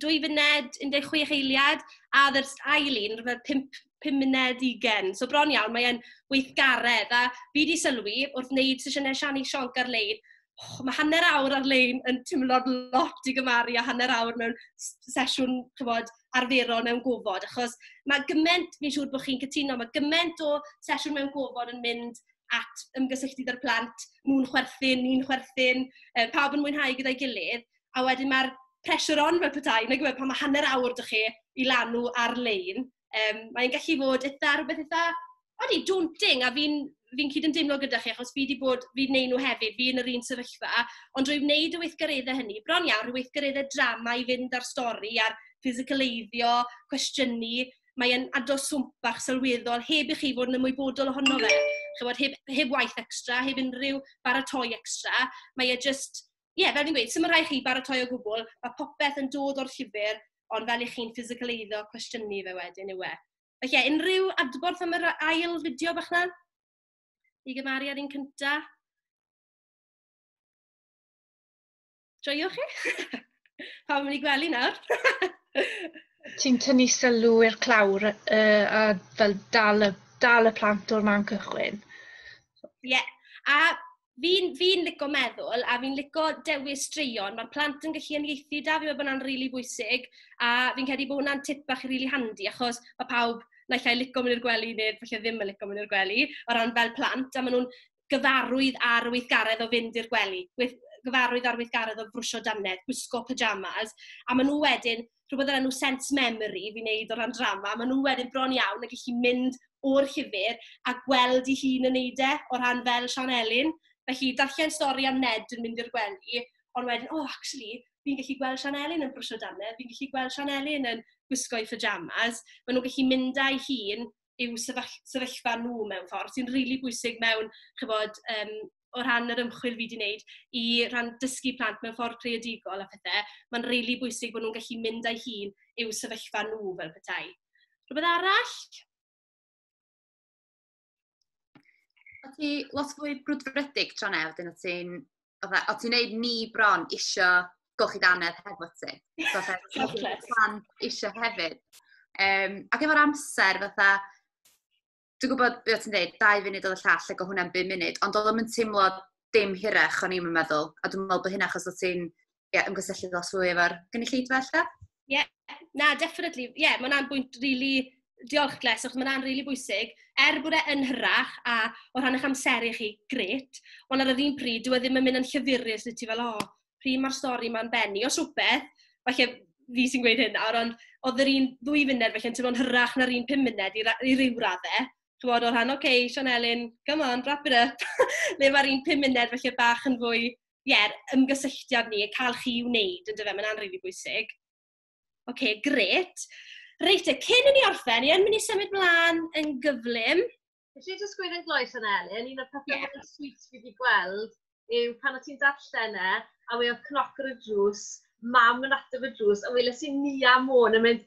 dwy funed, 16 eiliad, a ddy'r ail un, rhywbeth 5, 5 muned 20. So bron iawn, mae'n weithgaredd. A fi wedi sylwi, wrth wneud sesiynau Siani Sionc ar-lein, och, mae hanner awr ar-lein yn timlo'n lot i gymaru â hanner awr mewn sesiwn, chibod, arferol mewn gofod, achos mae gymaint, fi'n siŵr bod chi'n cytuno, mae gymaint o sesiwn mewn gofod yn mynd at ymgysylltu gyda'r plant, nhw'n chwerthin, ni'n chwerthin, e, pawb yn mwynhau gyda'i gilydd, a wedyn mae'r pressure on fel petai, nag yw e, pan mae hanner awr dych chi i lanw ar-lein, Yym, mae'n gallu bod eitha... rywbeth eitha, odi, daunting. A fi'n fi'n cydymdeimlo gyda chi, achos fi 'di bod... fi 'di wneud nhw hefyd, fi yn yr un sefyllfa. Ond drwy wneud y weithgareddau hynny, bron iawn, rhyw weithgareddau drama i fynd â'r stori a'r ffisicaleiddio, cwestiynu, mae e'n aros swmp bach sylweddol heb i chi fod yn ymwybodol ohono fe. Chimod, heb heb waith extra, heb unrhyw baratoi extra, mae e jyst... ie, fel fi'n gweud, sdim yn rhaid chi baratoi o gwbl, mae popeth yn dod o'r llyfr, ond fel i chi'n ffisicaleiddo cwestiynu fe wedyn yw e. Felly, ie, unrhyw adborth am yr ail fideo bach na? I gymaru ar un cynta? Joio chi? Pawb yn mynd i gwely nawr? Ti'n tynnu sylw i'r clawr uh, a fel dal y, dal y plant o'r man cychwyn. Ie, yeah. a fi'n fi lico meddwl a fi'n lico dewis straeon. Mae'r plant yn gallu ymieithu da, fi'n meddwl bod hwnna'n rili really bwysig. A fi'n credu bod hwnna'n tip bach rili really handi, achos mae pawb naill ai lico mynd i'r gwely neu falle ddim yn lico mynd i'r gwely, o ran fel plant, a maen nhw'n gyfarwydd ar y weithgaredd o fynd i'r gwely, gyfarwydd ar weithgaredd o frwsio dannedd, gwisgo pyjamas, a maen nhw wedyn rhywbeth o'r enw sense memory fi'n wneud o ran drama, maen nhw wedyn bron iawn yn gallu mynd o'r llyfr a gweld ei hun yn wneud e, o ran fel Sian Elin. Felly, darllen stori am Ned yn mynd i'r gwely, ond wedyn, o, oh, actually, fi'n gallu gweld Sian Elin yn brwsio dannedd, fi'n gallu gweld Sian Elin yn gwisgo ei pyjamas. Maen nhw'n gallu mynd â'i hun yw sefyll- sefyllfa nhw mewn ffordd, sy'n rili bwysig mewn, chibod, yym o ran yr ymchwil fi 'di wneud, i ran dysgu plant mewn ffordd creadigol a phethe, mae'n rili bwysig bod nhw'n gallu mynd â'i hun i'w sefyllfa nhw fel petai. Rhywbeth arall? O't ti lot fwy brwdfrydig tro neu' wedyn o't ti'n fatha, o ti'n neud ni bron isio golchi danedd hefo ti. Fatha, plan isio hefyd. Um, ac efo'r amser, fatha, dwi'n gwybod beth ti'n dweud, dau funud oedd y llall, lle go hwnna'n bum munud, ond oedd o'n teimlo dim hirach o'n i'n meddwl, a dwi'n meddwl bod hynna achos o ti'n yeah, ymgysylltu ddos fwy efo'r gynulleidfa allan? Ie, yeah. na, definitely. Ie, yeah, mae'n bwynt rili really diolch Gles, achos mae'n rili really bwysig. Er bod e yn hyrach a o rhan eich amser i chi, gret, ond ar yr un pryd, dwi e ddim yn mynd yn llyfurus, dwi ti fel, o, oh, pryd mae'r stori mae'n benni. Os rhywbeth, falle fi sy'n gweud hyn nawr, ond oedd yr un ddwy funud, felly yn teimlo'n hyrach na'r un pum munud i, i ryw raddau. Ti'n bod, o rhan, oce, okay, Sean Elin, come on, wrap it up. Le mae'r un pum munud, felly bach yn fwy ie, ymgysylltiad ni, cael chi i wneud, yn dyfe, mae'n anrhif i bwysig. Oce, okay, gret. Reit, e, cyn i ni orffen, ni yn mynd i symud mlaen yn gyflym. Felly, jyst gweud yn gloes yna, Elin, un o'r pethau yeah. mwyn swyt fi wedi gweld yw pan o ti'n darllen e, a weodd cnoc ar y drws, mam yn ateb y drws, a weles i Nia Môn yn mynd,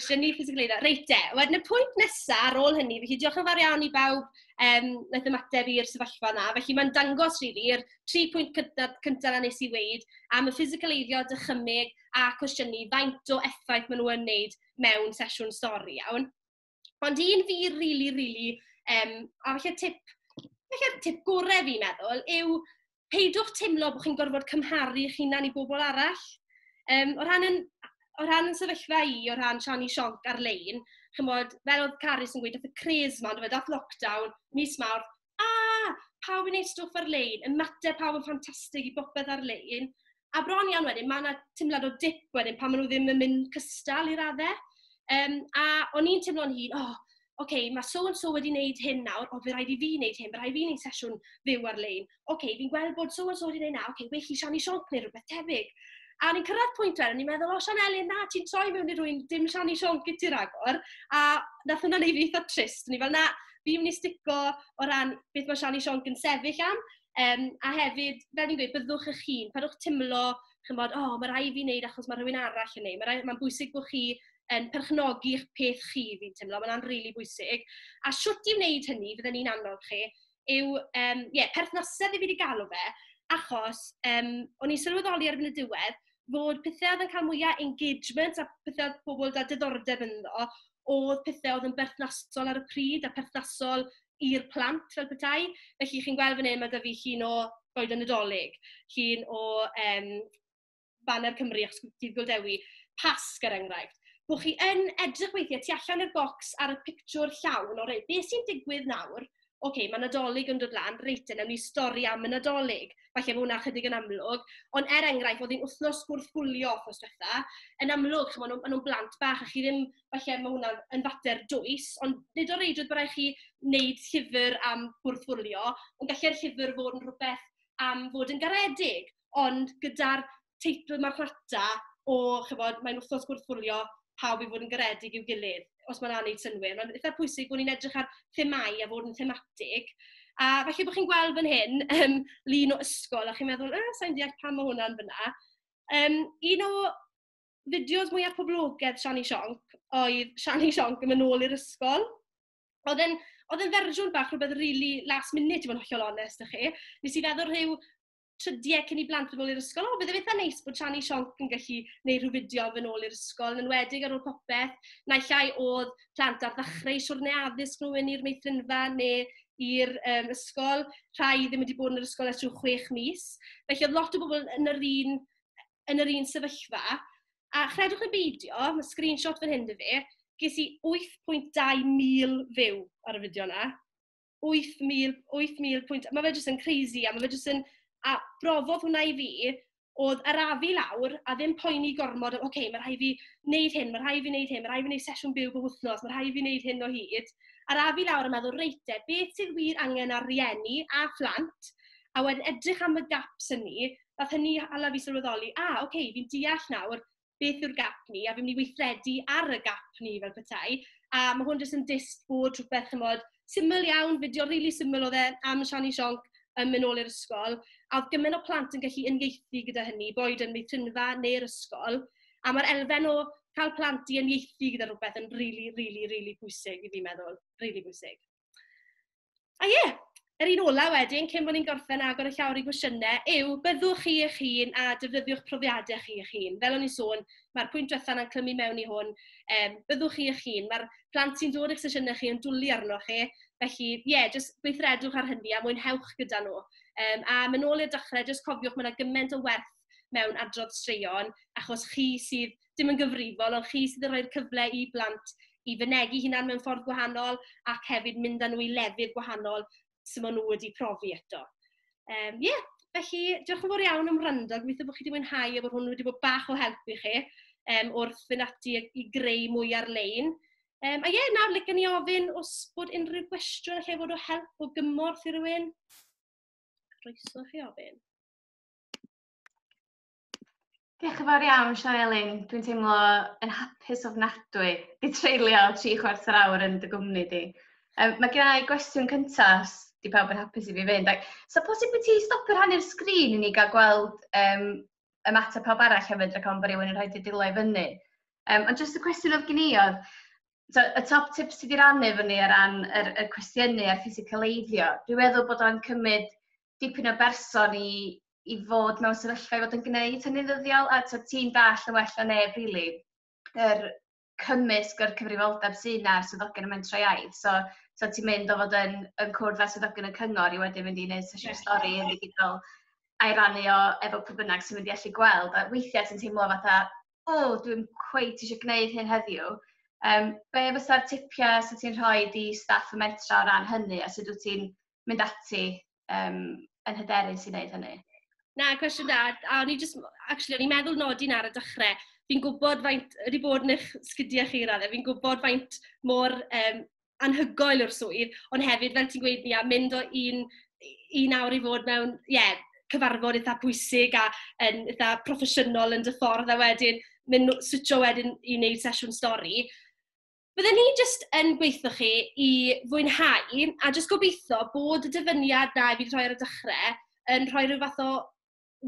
Cwestiynu physical aid. Reit de, wedyn y pwynt nesaf ar ôl hynny, felly diolch yn fawr iawn i bawb um, wnaeth ymateb i'r sefyllfa yna. Felly mae'n dangos rili, really, tri pwynt cyntaf, cyntaf na nes i weid am y physical aiddio, dychymyg a cwestiynu faint o effaith maen nhw'n wneud mewn sesiwn stori iawn. Ond un fi rili, really, rili, really, um, a felly tip, felly tip gorau fi'n meddwl, yw peidiwch teimlo bod chi'n gorfod cymharu eich hunan i bobl arall. Um, o ran yn o ran yn sefyllfa i, o ran Siani Sionc ar-lein, chymod, fel oedd Carys yn gweud, dath y cres ma, ond dath lockdown, mis mawr, a! pawb yn wneud stwff ar-lein, ymateb pawb yn ffantastig i bopeth ar-lein. A bron iawn wedyn, mae 'na teimlad o dip wedyn pan maen nhw ddim yn mynd cystal i raddau. Um, a o'n i'n teimlo'n hun, o, oh, oce, okay, mae so and so wedi wneud hyn nawr, o, fe rhaid i fi wneud hyn, fe rhaid i fi wneud sesiwn fyw ar-lein. Oce, okay, fi'n gweld bod so and so wedi wneud na, oce, okay, well i Shani Sionc neu rhywbeth tebyg. A ni'n cyrraedd pwynt wedyn, ni'n meddwl, o, Sian Elin, na, ti'n troi mewn i rwy'n dim Shani Sionc i ti ragor. A nath hwnna'n ei fi eitha trist, ni fel, na, fi'n mynd i stico o ran beth mae Sian i Siôn yn sefyll am. Um, a hefyd, fel ni'n gweud, byddwch eich hun. Pan o'ch teimlo, chymod, o, oh, mae rhaid fi wneud achos mae rhywun arall yn neud. Mae'n ma bwysig bod chi yn perchnogi eich peth chi, fi'n teimlo. Mae'n rili really bwysig. A siwt i wneud hynny, fydden ni'n annog chi, yw, um, yeah, perthnasedd i fi wedi galw fe, achos um, o'n i'n sylweddoli ar y diwedd fod pethau oedd yn cael mwyaf engagement a pethau oedd pobl da diddordeb ynddo, oedd pethe oedd yn berthnasol ar y pryd a perthnasol i'r plant fel petai. Felly chi'n gweld fan hyn, mae 'da fi llun o Goed y Nadolig, llun o um, Banner Cymru achos Dydd Gŵyl Dewi, Pasg er enghraifft. Bod chi yn edrych weithiau tu allan i'r bocs ar y pictiwr llawn, o reit, beth sy'n digwydd nawr ocê, mae Nadolig yn dod lan, reit te, wnawn ni stori am y Nadolig. Falle bod hwnna chydig yn amlwg. Ond er enghraifft, oedd hi'n wythnos gwrthwylio wythnos diwetha. Yn amlwg, chymod, nhw, nhw'n blant bach a chi ddim, falle mae hwnna yn fater dwys, ond nid o reidrwydd bod rhaid chi wneud llyfr am gwrthwylio, ond gallai'r llyfr fod yn rhywbeth am fod yn garedig. ond gyda'r teitl marchnata o, chimod, mae'n wythnos gwrthwylio pawb i fod yn garedig i'w gilydd, os ma hwnna'n wneud synnwyr. Mae'n eitha pwysig bod ni'n edrych ar themâu a fod yn thematig. A falle bod chi'n gweld fan hyn yym lun o ysgol a chi'n meddwl, "yy, sa i'n deall pam mae hwnna'n fanna". Yym un o fideos mwyaf poblogaidd Shani Sionc oedd Shani Sionc yn mynd nôl i'r ysgol. Oedd e'n oedd e'n fersiwn bach rhywbeth rili last minute i fod yn hollol onest 'da chi. Nes i feddwl rhyw trydiau cyn i blant yn ôl i'r ysgol. O, bydd e'n eitha neis bod Shani Sionc yn gallu gwneud rhyw fideo yn ôl i'r ysgol, yn enwedig ar ôl popeth, naill ai oedd plant ar ddechrau siwrne addysg nhw yn i'r meithrinfa neu i'r um, ysgol. Rhai ddim wedi bod yn yr ysgol ers rhyw chwech mis. Felly oedd lot o bobl yn yr un, yn yr un sefyllfa. A chredwch y beidio, mae screenshot fan hyn dy fe, ges i 8.2 mil fyw ar y fideo yna. 8,000, 8,000 pwynt. Mae fe jyst yn crazy a mae fe jyst yn... A brofodd hwnna i fi, oedd arafu lawr a ddim poeni gormod, oce, okay, mae rhai fi wneud hyn, mae rhai fi wneud hyn, mae rhai fi wneud sesiwn byw bob wythnos, mae rhai fi wneud hyn o hyd. Arafu lawr a meddwl, reit e, beth sydd wir angen ar rieni a phlant, a wedyn edrych am y gaps hynny, fath hynny hala fi sylweddoli, a, oce, okay, fi'n deall nawr, beth yw'r gap ni, a fi'n mynd i weithredu ar y gap ni fel petai. A mae hwn jyst yn dist bod rhywbeth, chymod, syml iawn, fideo rili really syml oedd e am Shani Sionc yn mynd nôl i'r ysgol. A oedd gymaint o plant yn gallu unieithu gyda hynny, boed yn meithrinfa neu'r ysgol. A mae'r elfen o cael plant i unieithu gyda rhywbeth yn rili, really, rili really, really pwysig i fi'n meddwl. Rili really pwysig. a ie, yr un ola wedyn, cyn bod ni'n gorffen agor y llawr i gwestiynau, yw byddwch chi eich hun a defnyddiwch profiadau chi eich hun. Fel o'n i'n sôn, mae'r pwynt diwethaf yna'n clymu mewn i hwn, um, byddwch chi eich hun. Mae'r plant sy'n dod i'ch sesiynau chi yn dwlu arno chi, felly ie, yeah, jyst gweithredwch ar hynny a mwynhewch gyda nhw. Um, a mynd ôl i'r dechrau, jyst cofiwch, mae yna gymaint o werth mewn adrodd straeon, achos chi sydd dim yn gyfrifol, ond chi sydd yn rhoi'r cyfle i blant i fynegi hunan mewn ffordd gwahanol ac hefyd mynd â nhw i lefydd gwahanol sydd maen nhw wedi profi eto. Um, yeah. Felly, diolch yn fawr iawn am wrando. Gobeithio bod chi wedi mwynhau a bod hwn wedi bod bach o help i chi um, wrth fynd ati i greu mwy ar-lein. Um, a ie, yeah, nawr, lygen ni ofyn os bod unrhyw gwestiwn allai fod o help o gymorth i rywun. Croeso chi ofyn. Diolch yn fawr iawn, Sian Elin. Dwi'n teimlo yn hapus ofnadwy i treulio tri chwarter awr yn dy gwmni di. Um, mae gen i gwestiwn cyntaf, di pawb yn hapus i fi fynd. Ac, so posib bod ti stopio rhannu'r sgrin i ni gael gweld um, y mater pawb arall hefyd, ac ond bod rhywun yn rhaid i dilo i fyny. Um, ond jyst y cwestiwn oedd gen i oedd, so, y top tips ti wedi rannu fyny ar ran yr, y cwestiynu a'r ffisicaleiddio, dwi'n meddwl bod o'n cymryd dipyn o berson i i fod mewn sefyllfa i fod yn gwneud hynny'n ddyddiol, a tibod ti'n dallt yn well na neb rili yr cymysg o'r cyfrifoldeb sy 'na a'r swyddogion y mentrau iaith. So so ti'n mynd o fod yn yn cwrdd â swyddogion y cyngor i wedyn mynd i wneud sesiwn stori yn ddigidol a'i rannu o efo pwy bynnag sy'n mynd i allu gweld. A weithiau ti'n teimlo fatha, o, dwi'n cweit eisiau gwneud hyn heddiw. Um, be fysa'r tipiau sy'n ti'n rhoi i staff y mentra o ran hynny a sut wyt ti'n mynd ati um, yn hyderus i wneud hynny? Na, cwestiwn da. A o'n i just, actually, o'n i'n meddwl nodi'n ar y dechrau, fi'n gwybod faint, wedi bod yn eich sgidiau chi raddau, fi'n gwybod faint mor um, anhygoel o'r swydd, ond hefyd, fel ti'n gweud, ni a mynd o un, un awr i fod mewn, ie, yeah, cyfarfod eitha pwysig a yn eitha proffesiynol yn dy ffordd a wedyn mynd switcho wedyn i wneud sesiwn stori. Bydden ni jyst yn gweithio chi i fwynhau, a jyst gobeithio bod y dyfyniad 'na fi 'di rhoi ar y dechrau yn rhoi rhyw fath o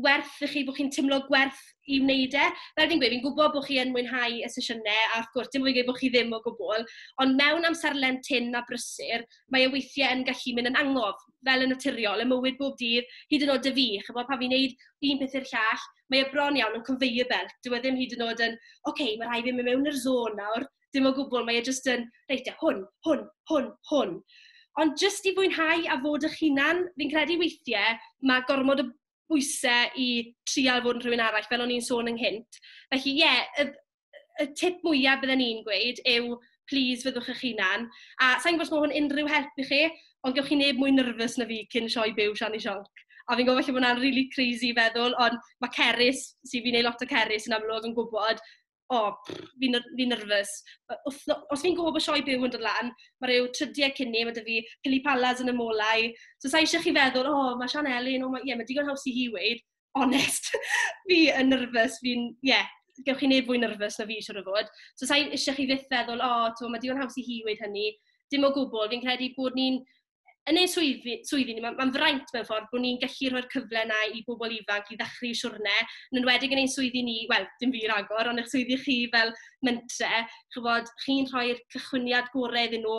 werth i chi, bod chi'n teimlo gwerth i wneud e. Fel fi'n gweud, fi'n gwybod bod chi yn mwynhau y sesiynau, a wrth gwrs, dim ond fi'n gweud bod chi ddim o gwbl, ond mewn amserlen tynn a brysur, mae e weithiau yn gallu mynd yn angof. fel yn naturiol, ym mywyd bob dydd, hyd yn oed 'da fi, chimod, pan fi'n wneud un peth i'r llall, mae e bron iawn yn conveyor belt. Dyw e ddim hyd yn oed yn, "ocê, ma' raid i fi mynd mewn i'r zone nawr." Dim o gwbl, mae e jyst yn, "reit te, hwn, hwn, hwn, hwn." Ond jyst i fwynhau a fod eich hunan, fi'n credu weithiau mae gormod o bwysau i trial fod yn rhywun arall, fel o'n i'n sôn ynghynt. Felly, ie, y... y tip mwyaf bydden i'n gweud yw please fyddwch eich hunan. A sa'n gwybod os mae hwn unrhyw help i chi, ond gewch chi neb mwy nervous na fi cyn sioe byw Sian i Sionc. A fi'n gwybod falle bod hwnna'n rili really crazy i feddwl, ond mae Cerys, sy'n fi'n ei lot o Cerys yn amlwg yn gwybod, o, oh, fi'n fi nervous. Os fi'n gwybod bod sioe byw yn dod lan, mae rhyw trydiau cyn ni, mae dy fi pili palas yn y molau. So sa'i eisiau chi feddwl, o, oh, mae Sian Elin, o, oh, ie, yeah, mae digon haws i hi weid, onest, fi yn nyrfys, fi'n, ie, yeah, gewch chi neb fwy nyrfys na fi, siwr o fod. So, sa'n eisiau chi fyth feddwl, o, oh, to, mae digon haws i hi wedi hynny. Dim o gwbl, fi'n credu bod ni'n, yn ei swyddi, swyddi ni, mae'n ma fraint mewn ffordd bod ni'n gallu rhoi'r cyfle yna i bobl ifanc i ddechrau i siwrne, yn enwedig yn ein swyddi ni, wel, dim fi ragor, ond eich swyddi chi fel mentre, chybod, chi'n rhoi'r cychwyniad gorau iddyn nhw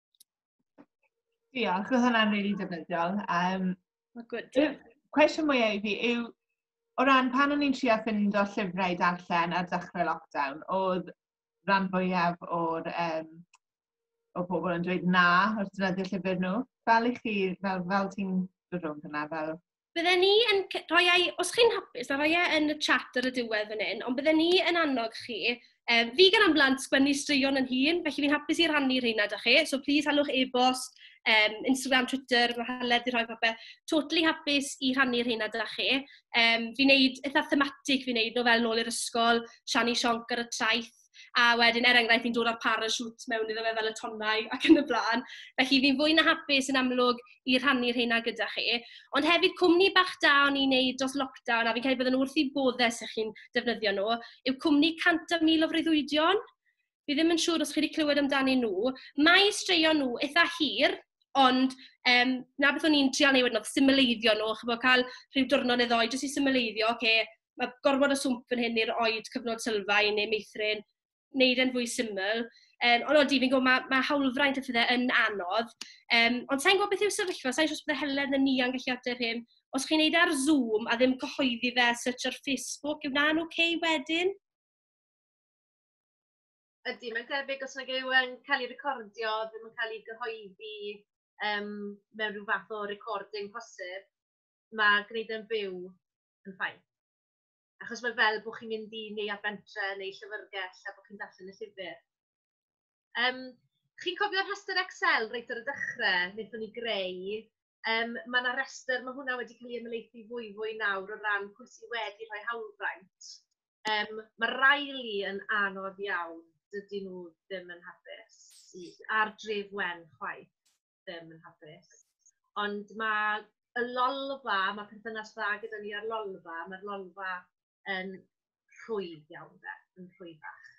Diolch, oedd hwnna'n rili really defnyddiol. Um, Mae gwyd. Cwestiwn mwyaf i fi yw, o ran pan o'n i'n trio ffind o llyfrau darllen ar dechrau lockdown, oedd rhan fwyaf o'r um, o bobl yn dweud na wrth dynyddio llyfr nhw. Fel i chi, fel, fel ti'n dod rhwng hynna, fel Bydden ni yn rhoi ai, os chi'n hapus, a rhoi e yn y chat ar y diwedd fan hyn, ond bydden ni yn annog chi, um, fi gan amblant sgwennu straeon yn hun, felly fi'n hapus i rannu rheina da chi, so please halwch e-bost, um, Instagram, Twitter, mae Heledd i rhoi popeth. Totally hapus i rhannu rheina da chi. Um, fi'n neud eitha thematic fi'n neud nhw fel nôl i'r ysgol, Shani Sionc ar y traeth, A wedyn, er enghraifft, fi'n dod â'r parachute mewn iddo fe fel y tonnau ac yn y blaen. Felly, fi'n fwy na hapus yn amlwg i rhannu rheina gyda chi. Ond hefyd, cwmni bach da o'n i'n wneud dros lockdown, a fi'n credu bydden nhw wrth eu boddau os chi'n defnyddio nhw, yw cwmni 100,000 o Freuddwydion. Fi ddim yn siŵr os chi wedi clywed amdanyn nhw. Mae straeon nhw eitha hir, Ond, um, na beth o'n i'n trial neud wedyn oedd symleiddio nhw, chibod, cael rhyw diwrnod neu ddoe jyst i symleiddio, oce, ma' gormod o swmp fan hyn i roid cyfnod sylfaen neu meithrin, wneud e'n fwy syml. Um, ond odi, fi'n gwybod mae ma hawlfraint a phethau yn anodd. Um, ond sa'n gwybod beth yw'r sefyllfa, sa'n siŵr bydde Helen yn ni a'n gallu ateb hyn. Os chi'n neud e ar Zoom a ddim cyhoeddi fe search ar Facebook, yw na'n oce okay wedyn? Ydy, mae'n tebyg os nag yw yn cael ei recordio, ddim yn cael ei gyhoeddi um, mewn rhyw fath o recording posib, mae gwneud yn byw yn ffaith. Achos mae fel bod chi'n mynd i neuadd bentre neu llyfrgell a bod chi'n darllen y llyfr. Um, chi'n cofio'r rhestr Excel reit ar y dechrau, wnaethon ni greu. Um, mae yna rhestr, mae hwnna wedi cael ei ymlaethu fwy fwy nawr o ran pwy sydd wedi rhoi hawlfraint. Um, mae rai li yn anodd iawn, dydy nhw ddim yn hapus, ar dref wen chwaith. ddim yn hapus. Ond mae y lolfa, mae perthynas dda gyda ni ar lolfa, mae'r lolfa yn rhwydd iawn de, yn rhwyddach.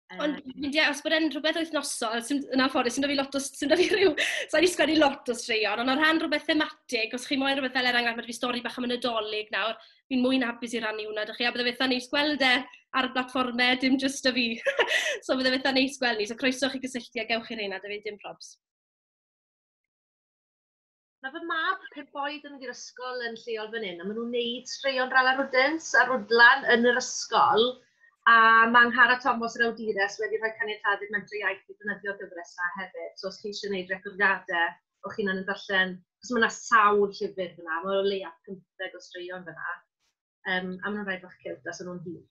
Um, Ond fi'n deall, os bod e'n rhywbeth wythnosol, sy'n yna ffordd, sy'n da fi lot o, sy'n da fi rhyw, sa'n ni sgwennu lot o straeon, ond o rhan rhywbeth thematig, os chi moyn rhywbeth fel er enghraifft, mae fi stori bach am y Nadolig nawr, fi'n mwy na hapus i rannu hwnna 'da chi, a byddai'n eitha neis gweld e ar y blatfformau, dim jyst 'da fi! So byddai'n eitha neis gweld ni, so croeso i chi gysylltu a gewch chi rheina 'da fi, dim probs. Mae fy mab pump oed yn mynd i'r ysgol yn lleol fan hyn, a maen nhw'n wneud straeon Rala Rwdins a Rwdlan yn yr ysgol, a mae Nghara Tomos yr awdures wedi rhoi caniatâd i'r Mentrau Iaith i ddefnyddio'r gyfres 'na hefyd, so os chi eisiau gwneud recordiadau o'ch chi'n yn darllen, cos mae yna sawl llyfr fyna, mae o leia 50 o straeon fyna, um, a maen nhw'n rhai bach cewt, a so nhw'n hir.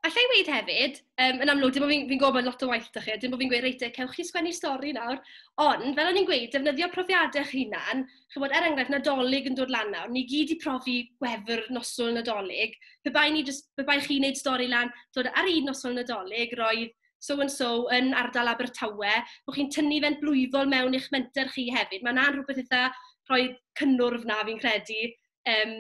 Alla i weid hefyd, um, yn amlwg, dim ond fi'n fi gwybod lot o waith da chi, dim ond fi'n gweud, reit, e, cewch chi sgwennu stori nawr, ond fel o'n i'n gweud, defnyddio profiadau eich hunan, chybod, er enghraifft, nadolig yn dod lan nawr, ni gyd i profi gwefr noswyl nadolig, pe bai, ni just, pe bai chi'n neud stori lan, dod ar un noswyl nadolig, roedd so and so yn ardal Abertawe, bod chi'n tynnu fe'n blwyddol mewn i'ch menter chi hefyd. Mae 'na'n rhywbeth eitha rhoi cynnwrf 'na fi'n credu, yym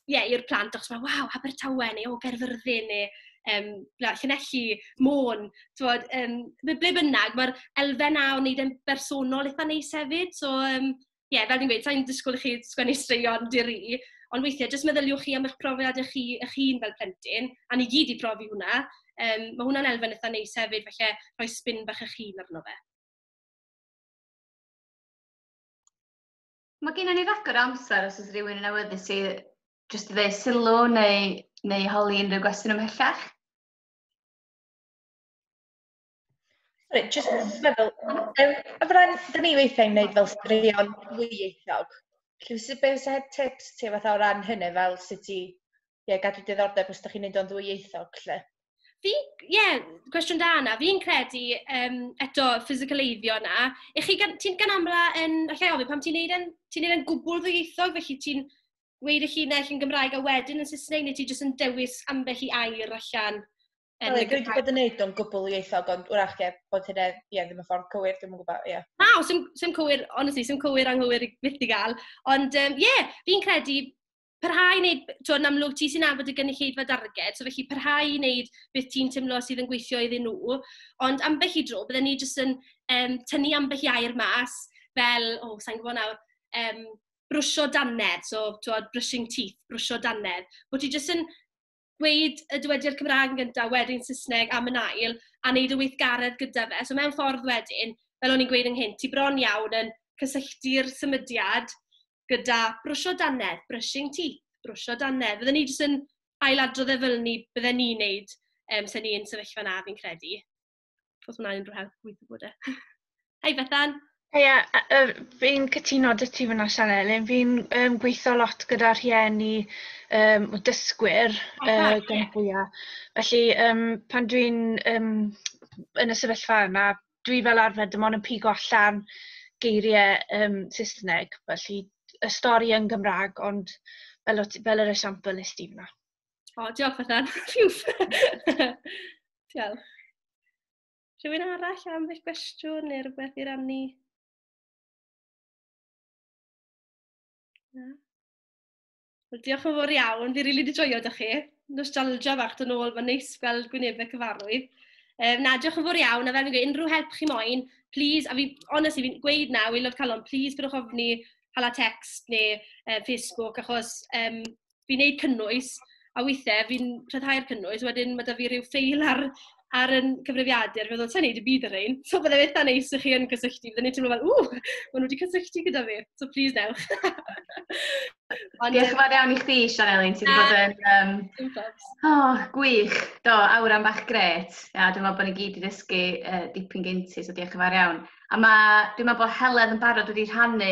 ie, i'r plant achos meddwl "waw, Abertawe" neu "o, Gaerfyrddin" neu yym na "Llanelli, Môn", timod yym ble bynnag. Mae'r elfen 'na o wneud e'n bersonol eitha neis hefyd, so yym... ie, fel dwi'n gweud, sa i'n disgwyl i chi sgwennu straeon di-ri, ond weithiau jyst meddyliwch chi am eich profiadau chi eich hun fel plentyn, a ni gyd 'di profi hwnna. Yym, ma' hwnna'n elfen eitha neis hefyd, falle rhoi spin bach eich hun arno fe. Mae gennym ni ragor o amser os oes rhywun yn awyddus i jyst i ddweud sylw neu, neu holi unrhyw gwestiwn ymhellach. Sorry, just meddwl, um, a fydda'n, da ni weithiau'n gwneud fel straeon ddwyieithog. Felly, sut beth sy'n heb tips ti fath o ran hynny, fel sut i ie, gadw diddordeb os da chi'n gwneud o'n ddwyieithog, lle? Fi, ie, yeah, cwestiwn da yna. Fi'n credu, um, eto, physical eiddio yna. Ych chi, ti'n gan amla yn, allai ofyn, pam ti'n neud yn, ti'n neud yn gwbl ddwyieithog, felly ti'n weid eich hun naill yn Gymraeg a wedyn yn Saesneg, neu ti jyst yn dewis ambell i air allan Yn Wel, dwi wedi bod yn neud o'n gwbl ieithog, ond wrach ie, bod hynna, ie, ddim y ffordd cywir, dwi'n yn gwybod, ie. Na, o, sy'n, sy'n cywir, honestly, sy'n cywir anghywir i fyth i gael. Ond, ie, um, yeah, fi'n credu parhau i wneud, to, yn amlwg ti sy'n afod y gynulleidfa darged, so felly parhau i wneud beth ti'n teimlo sydd yn gweithio iddyn nhw. Ond ambell i dro, byddwn ni jyst yn um, tynnu ambell i air mas, fel, o, oh, sa'n gwybod nawr, um, brwsio dannedd, so, to, brushing teeth, brwsio dannedd. Bod ti jyst yn gweud y dywediad Cymraeg yn gynta, wedyn Saesneg am yn ail, a wneud y weithgaredd gyda fe. So mewn ffordd wedyn, fel o'n i'n gweud ynghynt, ti bron iawn yn cysylltu'r symudiad gyda brwsio dannedd, brushing teeth, brwsio dannedd. Fydden ni jyst yn ailadrodd e fel ni bydden ni'n wneud um, se ni'n sefyllfa na, fi'n credu. os yna unrhyw help, gweithio bod e. Hei Bethan! Hei, yeah, uh, fi'n cytuno dy ti fyna Sian Elin, fi'n um, gweithio lot gyda rhieni um, o dysgwyr oh, uh, gan yeah. fwyaf. Felly um, pan dwi'n um, yn y sefyllfa yna, dwi fel arfer dim ond yn pigo allan geiriau um, Saesneg, felly y stori yn Gymraeg, ond fel, fel yr esiampl nes di fyna. O, diolch Bethan. diolch. Rhywun arall am eich gwestiwn neu rhywbeth i rannu? Na? Wel, diolch yn fawr iawn. Fi rili really wedi joio da chi. Nostalgia fach dyn ôl, mae'n neis gweld gwynebau cyfarwydd. Um, na, diolch yn fawr iawn. A fel fi'n gweud, unrhyw help chi moyn, please, a fi, honestly, fi'n gweud na, we love calon, please, pwyrwch ofni, hala text neu uh, Facebook, achos um, fi'n gwneud cynnwys, a weithiau fi'n rhyddhau'r cynnwys, wedyn ma' 'da fi ryw ffeil ar ar ein cyfrifiadur, fi'n meddwl, sa i'n gwneud dim byd ar rhein. So byddai'n eitha neis i chi yn cysylltu, byddai'n teimlo fel, ww, maen nhw wedi cysylltu gyda fi, so plis wnewch. Ond, Diolch yn fawr iawn i chdi, Sianelin, ti wedi bod yn... Um, oh, gwych, do, awran bach gret. A dwi'n meddwl bod ni gyd wedi dysgu uh, dipyn gynti, so diolch yn fawr iawn. A mae, dwi'n meddwl bod Helen yn barod wedi rhannu